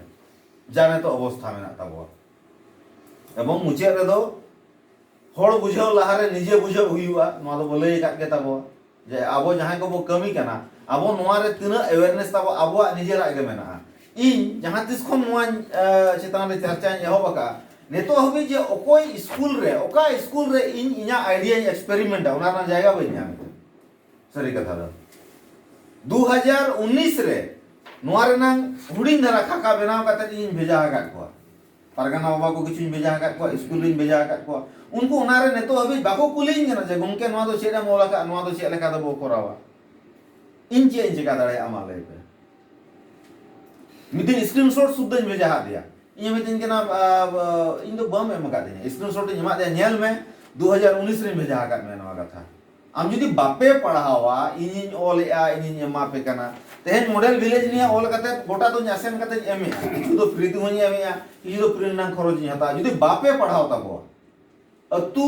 ᱡᱟ ᱱᱤᱛᱚᱜ ᱚᱵᱚᱥᱛᱷᱟ ᱢᱮᱱᱟᱜ ᱛᱟᱵᱚᱣᱟ ᱮᱵᱚᱝ ᱢᱩᱪᱟᱹᱫ ᱨᱮᱫᱚ ᱦᱚᱲ ᱵᱩᱡᱷᱟᱹᱣ ᱞᱟᱦᱟᱨᱮ ᱱᱤᱡᱮ ᱵᱩᱡᱷᱟᱹᱣ ᱦᱩᱭᱩᱜᱼᱟ ᱱᱚᱣᱟ ᱫᱚᱵᱚ ᱞᱟᱹᱭ ᱟᱠᱟᱫ ᱜᱮ ᱛᱟᱵᱚᱣᱟ ᱡᱮ ᱟᱵᱚ ᱡᱟᱦᱟᱸᱭ ᱠᱚᱵᱚ ᱠᱟᱹᱢᱤ ᱠᱟᱱᱟ ᱟᱵᱚ ᱱᱚᱣᱟ ᱨᱮ ᱛᱤᱱᱟᱹᱜ ᱮᱣᱮᱨᱱᱮᱥ ᱛᱟᱵᱚ ᱟᱵᱚᱣᱟᱜ ᱱᱤᱡᱮᱨᱟᱜ ᱜᱮ ᱢᱮᱱᱟᱜᱼᱟ ᱤᱧ ᱡᱟᱦᱟᱸ ᱛᱤᱥ ᱠᱷᱚᱱ ᱱᱚᱣᱟ ᱪᱮᱛᱟᱱ ᱨᱮ ᱪᱟᱨᱪᱟᱧ ᱮᱦᱚᱵ ᱟᱠᱟᱫᱼᱟ ᱱᱤᱛᱚᱜ ᱦᱟᱹᱵᱤᱡ ᱡᱮ ᱚᱠᱚᱭ ᱥᱠᱩᱞ ᱨᱮ ᱚᱠᱟ ᱥᱠᱩᱞ ᱨᱮ ᱤᱧ ᱤᱧᱟᱹᱜ ᱟᱭᱰᱤᱭᱟᱧ ᱮᱠᱥᱯᱮᱨᱤᱢᱮᱱᱴᱟ ᱚᱱᱟ ᱨᱮᱱᱟᱜ ᱡᱟᱭᱜᱟ ᱵᱟᱹᱧ ᱧᱟᱢ ᱮᱫᱟ ᱥᱟᱹᱨᱤ ᱠᱟᱛᱷᱟ ᱫᱚ ᱫᱩ ᱦᱟᱡᱟᱨ ᱩᱱᱤᱥ ᱨᱮ ᱱᱚᱣᱟ ᱨᱮᱱᱟᱝ ᱦᱩᱰᱤᱧ ᱫᱷᱟᱨᱟ ᱠᱷᱟᱠᱟ ᱵᱮᱱᱟᱣ ᱠᱟᱛᱮ ᱤᱧ ᱵᱷᱮᱡᱟ ᱟᱠᱟᱫ ᱠᱚᱣᱟ ᱯᱟᱨᱜᱟᱱᱟ ᱵᱟᱵᱟ ᱠᱚ ᱠᱤᱪᱷᱩᱧ ᱵᱷᱮᱡᱟ ᱟᱠᱟᱫ ᱠᱚᱣᱟ ᱥᱠᱩᱞ ᱨᱤᱧ ᱵᱷᱮᱡᱟ ᱟᱠᱟᱫ ᱠᱚᱣᱟ ᱩᱱᱠᱩ ᱚᱱᱟᱨᱮ ᱱᱤᱛᱚᱜ ᱦᱟᱹᱵᱤᱡ ᱵᱟᱠᱚ ᱠᱩᱞᱤᱧ ᱠᱟᱱᱟ ᱡᱮ ᱜᱚᱢᱠᱮ ᱱᱚᱣᱟ ᱫᱚ ᱪᱮᱫ ᱮᱢ ᱚᱞ ᱟᱠᱟᱫᱼᱟ ᱱᱚᱣᱟ ᱫᱚ ᱪᱮᱫ ᱞᱮᱠᱟ ᱛᱮᱵᱚ ᱠᱚᱨᱟᱣᱟ ᱤᱧ ᱪᱮᱫ ᱤᱧ ᱪᱮᱠᱟ ᱫᱟᱲᱮᱭᱟᱜᱼᱟ ᱢᱟ ᱞᱟᱹᱭ ᱯᱮ ᱢᱤᱫ ᱫᱤᱱ ᱥᱠᱨᱤᱱ ᱥᱚᱴ ᱥᱩᱫᱽᱫᱷᱟᱹᱧ ᱵᱷᱮᱡᱟ ᱟᱫ ᱫᱮᱭᱟ ᱤᱧ ᱢᱤᱛᱟᱹᱧ ᱠᱟᱱᱟ ᱤᱧ ᱫᱚ ᱵᱟᱢ ᱮᱢ ᱟᱠᱟᱫᱤᱧᱟ ᱥᱠᱨᱤᱱ ᱥᱚᱴ ᱤᱧ ᱮᱢᱟᱫ ᱫᱮᱭᱟ ᱧᱮᱞ ᱢᱮ ᱫᱩ ᱦᱟᱡᱟᱨ ᱩᱱᱤᱥ ᱨᱤᱧ ᱵᱷᱮᱡᱟ ᱟᱠᱟᱫ ᱢᱮᱭᱟ ᱱᱚᱣᱟ ᱠᱟᱛᱷᱟ ᱟᱢ ᱡᱩᱫᱤ ᱵᱟᱯᱮ ᱯᱟᱲᱦᱟᱣᱟ ᱤᱧᱤᱧ ᱚᱞ ᱮᱜᱼᱟ ᱤᱧᱤᱧ ᱮᱢᱟ ᱯᱮ ᱠᱟᱱᱟ ᱛᱮᱦᱮᱧ ᱢᱚᱰᱮᱞ ᱵᱷᱤᱞᱮᱡᱽ ᱱᱤᱭᱟᱹ ᱚᱞ ᱠᱟᱛᱮ ᱜᱚᱴᱟ ᱫᱚᱧ ᱟᱥᱮᱱ ᱠᱟᱛᱮᱧ ᱮᱢ ᱮᱜᱼᱟ ᱠᱤᱪᱷᱩ ᱫᱚ ᱯᱷᱨᱤ ᱛᱮᱦᱚᱧ ᱮᱢ ᱮᱜᱼᱟ ᱠᱤᱪᱷᱩ ᱫᱚ ᱯᱨᱤᱱᱴ ᱨᱮᱱᱟᱜ ᱠᱷᱚᱨᱚᱪ ᱤᱧ ᱦᱟᱛᱟᱣᱟ ᱡᱩᱫᱤ ᱵᱟᱯᱮ ᱯᱟᱲᱦᱟᱣ ᱛᱟᱵᱚᱣᱟ ᱟᱹᱛᱩ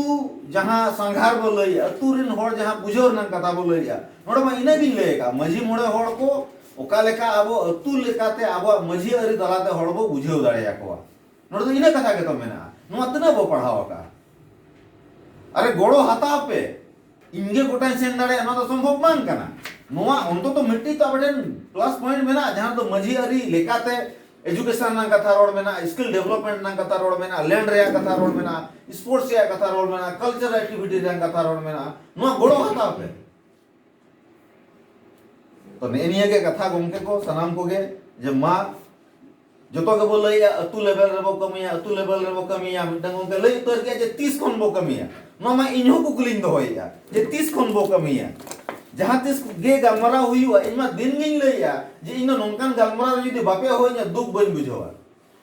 ᱡᱟᱦᱟᱸ ᱥᱟᱸᱜᱷᱟᱨ ᱵᱚ ᱞᱟᱹᱭ ᱟᱹᱛᱩ ᱨᱮᱱ ᱦᱚᱲ ᱡᱟᱦᱟᱸ ᱵᱩᱡᱷᱟᱹᱣ ᱨᱮᱱᱟᱜ ᱠᱟᱛᱷᱟ ᱵᱚ ᱞᱟᱹᱭ ᱮᱜᱼᱟ ᱱᱚᱰᱮ ᱢᱟ ᱤᱱᱟᱹ ᱜᱤᱧ ᱞᱟᱹᱭ ᱟᱠᱟᱫ ᱢᱟᱹᱡᱷᱤ ᱢᱚᱬᱮ ᱦᱚᱲ ᱠᱚ ᱚᱠᱟ ᱞᱮᱠᱟ ᱟᱵᱚ ᱟᱹᱛᱩ ᱞᱮᱠᱟᱛᱮ ᱟᱵᱚᱣᱟᱜ ᱢᱟᱹᱡᱷᱤ ᱟᱹᱨᱤ ᱛᱟᱞᱟᱛᱮ ᱦᱚᱲ ᱵᱚ ᱵᱩᱡᱷᱟᱹᱣ ᱫᱟᱲᱮᱭᱟᱠᱚᱣᱟ ᱱᱚᱰᱮ ᱫᱚ ᱤᱱᱟᱹ ᱠᱟᱛᱷᱟ ᱜᱮᱛᱚ ᱢᱮᱱᱟᱜᱼᱟ ᱱᱚᱣᱟ ᱛᱤᱱᱟᱹᱜ ᱵᱚ ᱯᱟᱲᱦᱟᱣ ᱟᱠᱟᱜᱼᱟ ᱟᱨᱮ ᱜᱚᱲᱚ ᱦᱟᱛᱟᱣ ᱯᱮ ᱤᱧ ᱜᱮ ᱜᱚᱴᱟᱧ ᱥᱮᱱ ᱫᱟᱲᱮᱭᱟᱜᱼᱟ ᱱᱚᱣᱟ ᱫᱚ ᱥᱚᱢᱵᱷᱚᱵ ᱵᱟᱝ ᱠᱟᱱᱟ ᱱᱚᱣᱟ ᱚᱱᱛᱚᱛᱚ ᱢᱤᱫᱴᱤᱡ ᱛᱚ ᱟᱯᱮ ᱴᱷᱮᱱ ᱯᱞᱟᱥ ᱯᱚᱭᱮᱱᱴ ᱢᱮᱱᱟᱜᱼᱟ ᱡᱟᱦᱟᱸ ᱨᱮᱫᱚ ᱢᱟᱹᱡᱷᱤ ᱟᱹᱨᱤ ᱞᱮᱠᱟᱛᱮ ᱮᱡᱩᱠᱮᱥᱚᱱ ᱨᱮᱱᱟᱜ ᱠᱟᱛᱷᱟ ᱨᱚᱲ ᱢᱮᱱᱟᱜᱼᱟ ᱥᱠᱤᱞ ᱰᱮᱵᱷᱞᱚᱯᱢᱮᱱᱴ ᱨᱮᱱᱟᱜ ᱠᱟᱛᱷᱟ ᱨᱚᱲ ᱢᱮᱱᱟᱜᱼᱟ ᱞᱮᱱᱰ ᱨᱮᱭᱟᱜ ᱠᱟᱛᱷᱟ ᱨᱚᱲ ᱢᱮᱱᱟᱜᱼᱟ ᱥᱯᱳᱨᱴᱥ ᱨᱮᱭᱟᱜ ᱠᱟᱛᱷᱟ ᱨᱚᱲ ᱢᱮᱱᱟᱜᱼᱟ ᱠᱟᱞᱪᱟᱨ ᱮᱠᱴᱤᱵᱷᱤᱴᱤ ᱨᱮᱭᱟᱜ ᱠᱟᱛᱷᱟ ᱨᱚᱲ ᱢᱮᱱᱟᱜᱼᱟ ᱱᱚᱣᱟ ᱜᱚᱲᱚ ᱦᱟᱛᱟᱣ ᱯᱮ ᱛᱚ ᱱᱮᱜᱼᱮ ᱱᱤᱭᱟᱹ ᱜᱮ ᱠᱟᱛᱷᱟ ᱜᱚᱢᱠᱮ ᱠᱚ ᱥᱟᱱᱟᱢ ᱠᱚᱜᱮ ᱡᱮ ᱢᱟ ᱡᱚᱛᱚ ᱜᱮᱵᱚ ᱞᱟᱹᱭᱟ ᱟᱹᱛᱩ ᱞᱮᱵᱮᱞ ᱨᱮᱵᱚ ᱠᱟᱹᱢᱤᱭᱟ ᱟᱹᱛᱩ ᱞᱮᱵᱮᱞ ᱨᱮᱵᱚ ᱠᱟᱹᱢᱤᱭᱟ ᱢᱤᱫᱴᱟᱝ ᱜᱚᱢᱠᱮ ᱞᱟᱹᱭ ᱩᱛᱟᱹᱨ ᱠᱮᱫ ᱡᱮ ᱛᱤᱥ ᱠᱷᱚᱱ ᱵᱚ ᱠᱟᱹᱢᱤᱭᱟ ᱱᱚᱣᱟ ᱢᱟ ᱤᱧ ᱦᱚᱸ ᱠᱩᱠᱞᱤᱧ ᱫᱚᱦᱚᱭᱮᱫᱼᱟ ᱡᱮ ᱛᱤᱥ ᱠᱷᱚᱱ ᱵᱚ ᱠᱟᱹᱢᱤᱭᱟ ᱡᱟᱦᱟᱸ ᱛᱤᱥ ᱜᱮ ᱜᱟᱞᱢᱟᱨᱟᱣ ᱦᱩᱭᱩᱜᱼᱟ ᱤᱧ ᱢᱟ ᱫᱤᱱ ᱜᱤᱧ ᱞᱟᱹᱭᱟ ᱡᱮ ᱤᱧ ᱫᱚ ᱱᱚᱝᱠᱟᱱ ᱜᱟᱞᱢᱟᱨᱟᱣ ᱡᱩᱫᱤ ᱵᱟᱯᱮ ᱦᱚᱦᱚᱧᱟ ᱫᱩᱠ ᱵᱟᱹᱧ ᱵᱩᱡᱷᱟᱹᱣᱟ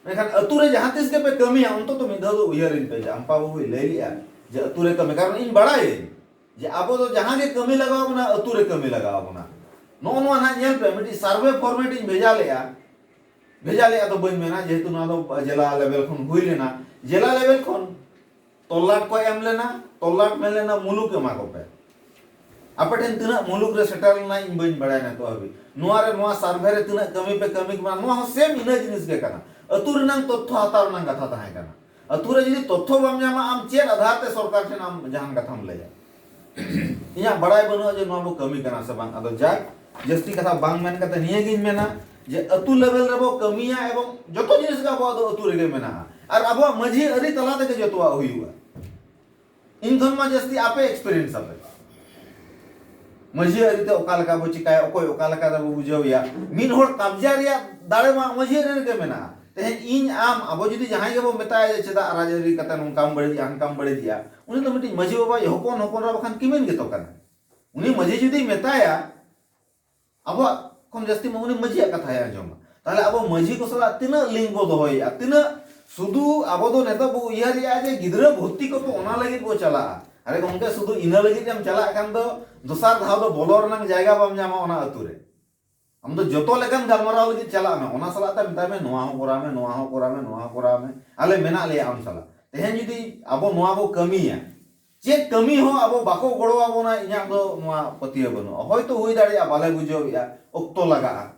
ᱢᱮᱱᱠᱷᱟᱱ ᱟᱹᱛᱩ ᱨᱮ ᱡᱟᱦᱟᱸ ᱛᱤᱥ ᱜᱮᱯᱮ ᱠᱟᱹᱢᱤᱭᱟ ᱚᱱᱛᱚᱛᱚ ᱢᱤᱫ ᱫᱷᱟᱣ ᱫᱚ ᱩᱭᱦᱟᱹᱨᱤᱧ ᱯᱮ ᱡᱮ ᱟᱢᱯᱟ ᱵᱟᱹᱵᱩᱭ ᱞᱟᱹᱭ ᱞᱮᱫᱼᱟ ᱡᱮ ᱟᱹᱛᱩ ᱨᱮ ᱠᱟᱹᱢᱤ ᱠᱟᱨᱚᱱ ᱤᱧ ᱵᱟᱲᱟᱭᱟᱹᱧ ᱡᱮ ᱟᱵᱚ ᱫᱚ ᱡᱟᱦᱟᱸ ᱜᱮ ᱠᱟᱹᱢᱤ ᱞᱟᱜᱟᱣ ᱵᱚᱱᱟ ᱟᱹᱛᱩ ᱨᱮ ᱠᱟᱹᱢᱤ ᱞᱟᱜᱟᱣ ᱵᱚᱱᱟ ᱱᱚᱜᱼᱚ ᱱᱚᱣᱟ ᱱᱟᱦᱟᱜ ᱧᱮᱞ ᱯᱮ ᱢᱤᱫᱴᱤᱡ ᱥᱟᱨᱵᱷᱮ ᱯᱷᱚᱨᱢᱮᱴ ᱤᱧ ᱵᱷᱮᱡᱟ ᱞᱮᱜᱼᱟ ᱵᱷᱮᱡᱟ ᱞᱮᱜᱼᱟ ᱫᱚ ᱵᱟᱹᱧ ᱢᱮᱱᱟ ᱡᱮᱦᱮᱛᱩ ᱱᱚᱣᱟ ᱫᱚ ᱡᱮᱞᱟ ᱞᱮᱵᱮᱞ ᱠᱷᱚᱱ ᱦᱩᱭ ᱞᱮᱱᱟ ᱡᱮᱞᱟ ᱞᱮᱵᱮᱞ ᱠᱷᱚᱱ ᱛᱚᱞᱞᱟᱴ ᱠᱚ ᱮᱢ ᱞᱮᱱᱟ ᱛᱚᱞᱞᱟᱴ ᱢᱮᱱ ᱞᱮᱱᱟ ᱢᱩᱞᱩᱠ ᱮᱢᱟ ᱠᱚᱯᱮ ᱟᱯᱮ ᱴᱷᱮᱱ ᱛᱤᱱᱟᱹᱜ ᱢᱩᱞᱩᱠ ᱨᱮ ᱥᱮᱴᱮᱨ ᱞᱮᱱᱟ ᱤᱧ ᱵᱟᱹᱧ ᱵᱟᱲᱟᱭᱟ ᱱᱤᱛᱚᱜ ᱦᱟᱹᱵᱤᱡ ᱱᱚᱣᱟ ᱨᱮ ᱱᱚᱣᱟ ᱥᱟᱨᱵᱷᱮ ᱨᱮ ᱛᱤᱱᱟᱹᱜ ᱠᱟᱹᱢᱤ ᱯᱮ ᱠᱟᱹᱢᱤ ᱠᱟᱱᱟ ᱱᱚᱣᱟ ᱦᱚᱸ ᱥᱮᱢ ᱤᱱᱟᱹ ᱡᱤᱱᱤᱥ ᱜᱮ ᱠᱟᱱᱟ ᱟᱹᱛᱩ ᱨᱮᱱᱟᱝ ᱛᱚᱛᱛᱷᱚ ᱦᱟᱛᱟᱣ ᱨᱮᱱᱟᱝ ᱠᱟᱛᱷᱟ ᱛᱟᱦᱮᱸ ᱠᱟᱱᱟ ᱟᱹᱛᱩ ᱨᱮ ᱡᱩᱫᱤ ᱛᱚᱛᱷᱭᱚ ᱵᱟᱢ ᱧᱟᱢᱟ ᱟᱢ ᱪᱮᱫ ᱟᱫᱷᱟᱨ ᱛᱮ ᱥᱚᱨᱠᱟᱨ ᱴᱷᱮᱱ ᱟᱢ ᱡᱟᱦᱟᱱ ᱠᱟᱛᱷᱟᱢ ᱞᱟᱹᱭᱟ? ᱤᱧᱟᱜ ᱵᱟᱲᱟᱭ ᱵᱟᱹᱱᱩᱜᱼᱟ ᱡᱮ ᱱᱚᱣᱟ ᱵᱚ ᱠᱟᱹᱢᱤ ᱠᱟᱱᱟ ᱥᱮ ᱵᱟᱝ ᱟᱫᱚ ᱡᱟᱠ ᱡᱟᱹᱥᱛᱤ ᱠᱟᱛᱷᱟ ᱵᱟᱝ ᱢᱮᱱ ᱠᱟᱛᱮ ᱱᱤᱭᱟᱹ ᱜᱤᱧ ᱢᱮᱱᱟ ᱡᱮ ᱟᱹᱛᱩ ᱞᱮᱵᱮᱞ ᱨᱮ ᱵᱚ ᱠᱟᱹᱢᱤᱭᱟ ᱮᱵᱚᱝ ᱡᱚᱛᱚ ᱡᱤᱱᱤᱥ ᱜᱮ ᱟᱵᱚᱣᱟᱜ ᱫᱚ ᱟᱹᱛᱩ ᱨᱮᱜᱮ ᱢᱮᱱᱟᱜᱼᱟ ᱟᱨ ᱟᱵᱚᱣᱟᱜ ᱢᱟᱹᱡᱷᱤ ᱟᱹᱨᱤ ᱛᱟᱞᱟ ᱛᱮᱜᱮ ᱡᱚᱛᱚᱣᱟᱜ ᱦᱩᱭᱩᱜᱼᱟ᱾ ᱤᱧ ᱠᱷᱚᱱ ᱢᱟ ᱡᱟᱹᱥᱛᱤ ᱟᱯᱮ ᱮᱠᱥᱯᱮᱨᱤᱭᱮᱱᱥ ᱟᱯᱮ ᱢᱟᱹᱡᱷᱤ ᱟᱹᱨᱤ ᱛᱮ ᱚᱠᱟ ᱞᱮᱠᱟ ᱵᱚ ᱪᱤᱠᱟᱭᱟ ᱚᱠᱚᱭ ᱚᱠᱟ ᱞᱮᱠᱟ ᱨᱮᱵᱚ ᱵᱩᱡᱷᱟᱹᱣᱮᱭᱟ ᱢᱤᱫ ᱦᱚᱲ ᱠᱟᱵᱡᱟ ᱨᱮᱭᱟᱜ ᱫᱟᱲᱮ ᱢᱟ ᱢᱟᱹᱡᱷᱤ ᱟᱹᱨᱤ ᱨᱮᱜᱮ ᱢᱮᱱᱟᱜᱼᱟ ᱛᱮᱦᱮᱧ ᱤᱧ ᱟᱢ ᱟᱵᱚ ᱡᱩᱫᱤ ᱡᱟᱦᱟᱸᱭ ᱜᱮᱵᱚ ᱢᱮᱛᱟᱭᱟ ᱡᱮ ᱪᱮᱫᱟᱜ ᱨᱟᱡᱽ ᱟᱹᱨᱤ ᱠᱟᱛᱮ ᱱᱚᱝᱠᱟᱢ ᱵᱟᱹᱲᱤᱡᱼᱟ ᱦᱟᱱᱠᱟᱢ ᱵᱟᱹᱲᱤᱡᱮᱜᱼᱟ ᱩᱱᱤ ᱫᱚ ᱢᱤᱫᱴᱤᱡ ᱢᱟᱹᱡᱷᱤ ᱵᱟᱵᱟᱭᱤᱡ ᱦᱚᱯᱚᱱ ᱦᱚᱯᱚᱱ ᱮᱨᱟ ᱵᱟᱠᱷᱟᱱ ᱠᱤᱢᱤᱱ ᱜᱮᱛᱚ ᱠᱟᱱᱟᱭ ᱩᱱᱤ ᱢᱟᱹᱡᱷᱤ ᱡᱩᱫᱤᱭ ᱢᱮᱛᱟᱭᱟ ᱟᱵᱚᱣᱟᱜ ᱠᱷᱚᱱ ᱡᱟᱹᱥᱛᱤ ᱢᱟ ᱩᱱᱤ ᱢᱟᱹᱡᱷᱤᱭᱟᱜ ᱠᱟᱛᱷᱟᱭ ᱟᱸᱡᱚᱢᱟ ᱛᱟᱦᱞᱮ ᱟᱵᱚ ᱢᱟᱹᱡᱷᱤ ᱠᱚ ᱥᱟᱞᱟᱜ ᱛᱤᱱᱟᱹᱜ ᱞᱤᱝᱠ ᱵᱚ ᱫᱚᱦᱚᱭᱮᱜᱼᱟ ᱛᱤᱱᱟᱹᱜ ᱥᱩᱫᱷᱩ ᱟᱵᱚ ᱫᱚ ᱱᱤᱛᱚᱜ ᱵᱚ ᱩᱭᱦᱟᱹᱨᱮᱜᱼᱟ ᱡᱮ ᱜᱤᱫᱽᱨᱟᱹ ᱵᱷᱚᱨᱛᱤ ᱠᱚᱠᱚ ᱚᱱᱟ ᱞᱟᱹᱜᱤᱫ ᱵᱚ ᱪᱟᱞᱟᱜᱼᱟ ᱟᱨᱮ ᱜᱚᱢᱠᱮ ᱥᱩᱫᱷᱩ ᱤᱱᱟᱹ ᱞᱟᱹᱜᱤᱫ ᱮᱢ ᱪᱟᱞᱟᱜ ᱠᱷᱟᱱ ᱫᱚ ᱫᱚᱥᱟᱨ ᱫᱷᱟᱣ ᱫᱚ ᱵᱚᱞᱚ ᱨᱮᱱᱟᱜ ᱡᱟᱭᱜᱟ ᱵᱟᱢ ᱧᱟᱢᱟ ᱚᱱᱟ ᱟᱹᱛᱩ ᱨᱮ ᱟᱢ ᱫᱚ ᱡᱚᱛᱚ ᱞᱮᱠᱟᱱ ᱜᱟᱞᱢᱟᱨᱟᱣ ᱞᱟᱹᱜᱤᱫ ᱪᱟᱞᱟᱜ ᱢᱮ ᱚᱱᱟ ᱥᱟᱞᱟᱜ ᱛᱮ ᱢᱮᱛᱟᱭ ᱢᱮ ᱱᱚᱣᱟ ᱦᱚᱸ ᱠᱚᱨᱟᱣ ᱢᱮ ᱱᱚᱣᱟ ᱦᱚᱸ ᱠᱚᱨᱟᱣ ᱢᱮ ᱱᱚᱣᱟ ᱦᱚᱸ ᱠᱚᱨᱟᱣ ᱢᱮ ᱟᱞᱮ ᱢᱮᱱᱟᱜ ᱞᱮᱭᱟ ᱟᱢ ᱥᱟᱞᱟᱜ ᱛᱮᱦᱮᱧ ᱡᱩᱫᱤ ᱟᱵᱚ ᱱᱚᱣᱟ ᱵᱚ ᱠᱟᱹᱢᱤᱭᱟ ᱪᱮᱫ ᱠᱟᱹᱢᱤ ᱦᱚᱸ ᱟᱵᱚ ᱵᱟᱠᱚ ᱜᱚᱲᱚ ᱟᱵᱚᱱᱟ ᱤᱧᱟᱜ ᱫᱚ ᱱᱚᱣᱟ ᱯᱟᱹᱛᱭᱟᱹᱣ ᱵᱟᱹᱱᱩᱜᱼᱟ ᱦᱚᱭᱛᱚ ᱦᱩᱭ ᱫᱟᱲᱮᱭᱟᱜᱼᱟ ᱵᱟᱞᱮ ᱵᱩᱡᱷᱟᱹᱣ ᱮᱫᱼᱟ ᱚᱠᱛᱚ ᱞᱟᱜᱟᱜᱼᱟ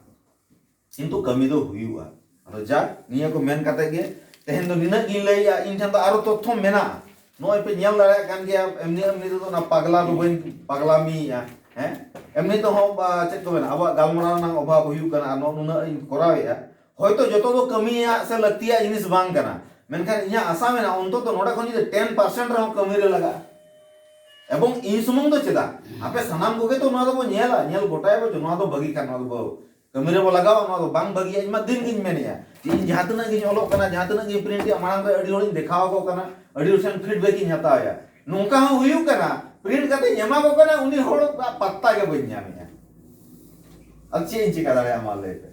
ᱠᱤᱱᱛᱩ ᱠᱟᱹᱢᱤ ᱫᱚ ᱦᱩᱭᱩᱜᱼᱟ ᱟᱫᱚ ᱡᱟᱠ ᱱᱤᱭᱟᱹ ᱠᱚ ᱢᱮᱱ ᱠᱟᱛᱮ ᱜᱮ ᱛᱮᱦᱮᱧ ᱫᱚ ᱱᱤᱱᱟᱹᱜ ᱜᱤᱧ ᱞᱟᱹᱭᱮᱫᱼᱟ ᱤᱧ ᱴᱷᱮᱱ ᱫᱚ ᱟᱨᱚ ᱛᱚᱛᱛᱷᱚ ᱢᱮᱱᱟᱜᱼᱟ ᱱᱚᱜᱼᱚᱭ ᱯᱮ ᱧᱮᱞ ᱫᱟᱲᱮᱭᱟᱜ ᱠᱟᱱ ᱜᱮᱭᱟ ᱮᱢᱱᱤ ᱮᱢᱱᱤ ᱛᱮᱫᱚ ᱚᱱᱟ ᱯᱟᱜᱽᱞᱟ ᱫᱚ ᱵᱟᱹᱧ ᱯᱟᱜᱽᱞᱟᱢᱤᱭᱮᱫᱼᱟ ᱦᱮᱸ ᱮᱢᱱᱤ ᱛᱮᱦᱚᱸ ᱪᱮᱫ ᱠᱚ ᱢᱮᱱᱟ ᱟᱵᱚᱣᱟᱜ ᱜᱟᱞᱢᱟᱨᱟᱣ ᱨᱮᱱᱟᱜ ᱚᱵᱷᱟᱵᱽ ᱦᱩᱭᱩᱜ ᱠᱟᱱᱟ ᱟᱨ ᱱᱚᱜᱼᱚ ᱱᱩᱱᱟᱹᱜ ᱤᱧ ᱠᱚᱨᱟᱣᱮᱫᱼᱟ ᱦᱚᱭᱛᱚ ᱡᱚᱛᱚ ᱫᱚ ᱠᱟᱹᱢᱤᱭᱟᱜ ᱥᱮ ᱞᱟᱹᱠᱛᱤᱭᱟᱜ ᱡᱤᱱᱤᱥ ᱵᱟᱝ ᱠᱟᱱᱟ, ᱢᱮᱱᱠᱷᱟᱱ ᱤᱧᱟᱜ ᱟᱥᱟ ᱢᱮᱱᱟᱜᱼᱟ ᱚᱱᱛᱚᱛᱚ ᱱᱚᱰᱮ ᱠᱷᱚᱱ ᱡᱩᱫᱤ ᱴᱮᱱ ᱯᱟᱨᱥᱮᱱᱴ ᱨᱮᱦᱚᱸ ᱠᱟᱹᱢᱤ ᱨᱮ ᱞᱟᱜᱟᱜᱼᱟ᱾ ᱮᱵᱚᱝ ᱤᱧ ᱥᱩᱢᱩᱝ ᱫᱚ ᱪᱮᱫᱟᱜ, ᱟᱯᱮ ᱥᱟᱱᱟᱢ ᱠᱚᱜᱮ ᱛᱚ ᱱᱚᱣᱟ ᱫᱚᱵᱚ ᱧᱮᱞᱟ, ᱧᱮᱞ ᱜᱚᱴᱟᱭᱟᱵᱚ ᱡᱮ ᱱᱚᱣᱟ ᱫᱚ ᱵᱷᱟᱹᱜᱤ ᱠᱷᱟᱱ ᱱᱚᱣᱟ ᱫᱚᱵᱚ ᱠᱟᱹᱢᱤ ᱨᱮᱵᱚ ᱞᱟᱜᱟᱣᱟ, ᱱᱚᱣᱟ ᱫᱚ ᱵᱟᱝ ᱵᱷᱟᱹᱜᱤᱭᱟ᱾ ᱤᱧ ᱢᱟ ᱫᱤᱱ ᱜᱤᱧ ᱢᱮᱱᱮᱜᱼᱟ ᱡᱮ ᱤᱧ ᱡᱟᱦᱟᱸ ᱛᱤᱱᱟᱹᱜ ᱜᱤᱧ ᱚᱞᱚᱜ ᱠᱟᱱᱟ, ᱡᱟᱦᱟᱸ ᱛᱤᱱᱟᱹᱜ ᱜᱤᱧ ᱯᱨᱤᱱᱴ ᱮᱜᱼᱟ ᱢᱟᱲᱟᱝ ᱨᱮ ᱟᱹᱰᱤ ᱦᱚᱲᱤᱧ ᱫᱮᱠᱷᱟᱣ ᱟᱠᱚ ᱠᱟᱱᱟ, ᱟᱹᱰᱤ ᱦᱚᱲ ᱴᱷᱮᱱ ᱯᱷᱤᱰᱵᱮᱠ ᱤᱧ ᱦᱟᱛᱟᱣᱮᱜᱼᱟ᱾ ᱱᱚᱝᱠᱟ ᱦᱚᱸ ᱦᱩᱭᱩᱜ ᱠᱟᱱᱟ ᱯᱨᱤᱱᱴ ᱠᱟᱛᱮᱧ ᱮᱢᱟ ᱠᱚ ᱠᱟᱱᱟ ᱩᱱᱤ ᱦᱚᱲ ᱟᱜ ᱯᱟᱛᱛᱟ ᱜᱮ ᱵᱟᱹᱧ ᱧᱟᱢᱮᱜᱼᱟ᱾ ᱟᱫᱚ ᱪᱮᱫ ᱤᱧ ᱪᱮᱠᱟ ᱫᱟᱲᱮᱭᱟᱜᱼᱟ ᱢᱟ ᱞᱟᱹᱭ ᱯᱮ᱾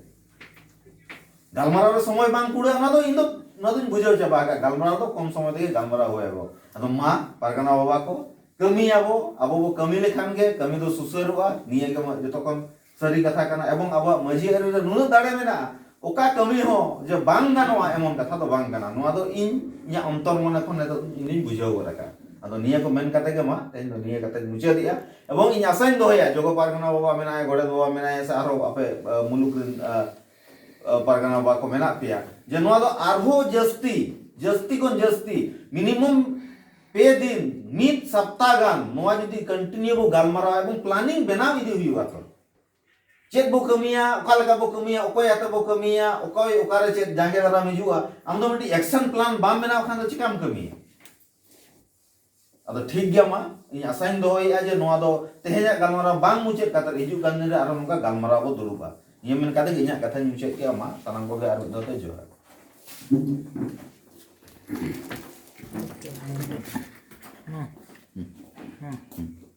ᱜᱟᱞᱢᱟᱨᱟᱣ ᱨᱮ ᱥᱚᱢᱚᱭ ᱵᱟᱝ ᱠᱩᱲᱟᱹᱜᱼᱟ ᱚᱱᱟ ᱫᱚ ᱤᱧ ᱫᱚ ᱚᱱᱟ ᱫᱚᱧ ᱵᱩᱡᱷᱟᱹᱣ ᱪᱟᱵᱟ ᱟᱠᱟᱫ ᱜᱟᱞᱢᱟᱨᱟᱣ ᱫᱚ ᱠᱚᱢ ᱥᱚᱢᱚᱭ ᱛᱮᱜᱮ ᱜᱟᱞᱢᱟᱨᱟᱣ ᱦᱩᱭ ᱟᱵᱚ ᱟᱫᱚ ᱢᱟ ᱯᱟᱨᱜᱟᱱᱟ ᱵᱟᱵᱟ ᱠᱚ ᱠᱟᱹᱢᱤᱭᱟᱵᱚ ᱟᱵᱚ ᱵᱚ ᱠᱟᱹᱢᱤ ᱞᱮᱠᱷᱟᱱ ᱜᱮ ᱠᱟᱹᱢᱤ ᱫᱚ ᱥᱩᱥᱟᱹᱨᱚᱜᱼᱟ ᱱᱤᱭᱟᱹ ᱜᱮ ᱡᱚᱛᱚ ᱠᱷᱚᱱ ᱥᱟᱹᱨᱤ ᱠᱟᱛᱷᱟ ᱠᱟᱱᱟ ᱮᱵᱚᱝ ᱟᱵᱚᱣᱟᱜ ᱢᱟᱹᱡᱷᱤ ᱟᱹᱨᱤ ᱨᱮ ᱱᱩᱱᱟᱹᱜ ᱫᱟᱲᱮ ᱢᱮᱱᱟᱜᱼᱟ ᱚᱠᱟ ᱠᱟᱹᱢᱤ ᱦᱚᱸ ᱡᱮ ᱵᱟᱝ ᱜᱟᱱᱚᱜᱼᱟ ᱮᱢᱚᱱ ᱠᱟᱛᱷᱟ ᱫᱚ ᱵᱟᱝ ᱠᱟᱱᱟ ᱱᱚᱣᱟ ᱫᱚ ᱤᱧ ᱤᱧᱟᱹᱜ ᱚᱱᱛᱚᱨ ᱢᱚᱱᱮ ᱠᱷᱚᱱ ᱱᱤᱛᱚᱜ ᱤᱧ ᱫᱩᱧ ᱵᱩᱡᱷᱟᱹᱣ ᱜᱚᱫ ᱟᱠᱟᱫᱼᱟ ᱟᱫᱚ ᱱᱤᱭᱟᱹ ᱠᱚ ᱢᱮᱱ ᱠᱟᱛᱮ ᱜᱮ ᱢᱟ ᱛᱮᱦᱮᱧ ᱫᱚ ᱱᱤᱭᱟᱹ ᱠᱟᱛᱮᱧ ᱢᱩᱪᱟᱹᱫᱮᱜᱼᱟ ᱮᱵᱚᱝ ᱤᱧ ᱟᱥᱟᱧ ᱫᱚᱦᱚᱭᱟ ᱡᱚᱜᱚ ᱯᱟᱨᱜᱟᱱᱟ ᱵᱟᱵᱟ ᱢᱮᱱᱟᱭᱟ ᱜᱚᱰᱮᱛ ᱵᱟᱵᱟ ᱢᱮᱱᱟᱭᱟ ᱥᱮ ᱟᱨᱦᱚᱸ ᱟᱯᱮ ᱢᱩᱞᱩᱠ ᱨᱮᱱ ᱯᱟᱨᱜᱟᱱᱟ ᱵᱟᱵᱟ ᱠᱚ ᱢᱮᱱᱟᱜ ᱯᱮᱭᱟ ᱡᱮ ᱱᱚᱣᱟ ᱫᱚ ᱟᱨᱦᱚᱸ ᱡᱟᱹᱥᱛᱤ ᱡᱟᱹᱥᱛᱤ ᱠᱷᱚᱱ ᱡᱟᱹᱥᱛᱤ ᱢᱤᱱᱤᱢᱟᱢ ᱯᱮ ᱫᱤᱱ ᱢᱤᱫ ᱥᱚᱯᱛᱟ ᱜᱟᱱ ᱱᱚᱣᱟ ᱡᱩᱫᱤ ᱠᱚᱱᱴᱤᱱᱤᱭᱩ ᱵᱚ ᱜᱟᱞᱢᱟᱨᱟᱣᱟ ᱮᱵᱚᱝ ᱯᱞᱟᱱᱤᱝ ᱵᱮᱱᱟᱣ ᱤᱫᱤ ᱦᱩᱭᱩᱜᱼᱟ ᱛᱚ ᱪᱮᱫ ᱵᱚ ᱠᱟᱹᱢᱤᱭᱟ ᱚᱠᱟ ᱞᱮᱠᱟ ᱵᱚ ᱠᱟᱹᱢᱤᱭᱟ ᱚᱠᱚᱭ ᱟᱛᱮ ᱵᱚ ᱠᱟᱹᱢᱤᱭᱟ ᱚᱠᱚᱭ ᱚᱠᱟᱨᱮ ᱪᱮᱫ ᱡᱟᱸᱜᱮ ᱫᱟᱨᱟᱢ ᱦᱤᱡᱩᱜᱼᱟ ᱟᱢ ᱫᱚ ᱢᱤᱫᱴᱤᱡ ᱮᱠᱥᱚᱱ ᱯᱞᱟᱱ ᱵᱟᱢ ᱵᱮᱱᱟᱣ ᱠᱷᱟᱱ ᱫᱚ ᱪᱤᱠᱟᱢ ᱠᱟᱹᱢᱤᱭᱟ ᱟᱫᱚ ᱴᱷᱤᱠ ᱜᱮᱭᱟ ᱢᱟ ᱤᱧ ᱟᱥᱟᱧ ᱫᱚᱦᱚᱭᱮᱫᱼᱟ ᱡᱮ ᱱᱚᱣᱟ ᱫᱚ ᱛᱮᱦᱮᱧᱟᱜ ᱜᱟᱞᱢᱟᱨᱟᱣ ᱵᱟᱝ ᱢᱩᱪᱟᱹᱫ ᱠᱟᱛᱮ ᱦᱤᱡᱩᱜ ᱠᱟᱱ ᱫᱤᱱ ᱨᱮ ᱟᱨᱦᱚᱸ ᱱᱚᱝᱠᱟ ᱜᱟᱞᱢᱟᱨᱟᱣ ᱵᱚ ᱫᱩᱲᱩᱵᱼᱟ ᱱᱤᱭᱟᱹ ᱢᱮᱱ ᱠᱟᱛᱮ ᱜᱮ ᱤᱧᱟᱹᱜ ᱠᱟᱛᱷᱟᱧ ᱢᱩᱪᱟᱹᱫ ᱠᱮᱫᱼᱟ ᱢᱟ ᱥᱟᱱᱟᱢ ᱠᱚᱜᱮ ᱟᱨ ᱢᱤᱫ ᱫᱷᱟᱣ ᱛᱮ ᱡᱚᱦᱟᱨ ᱦᱮᱸ ᱦᱮᱸ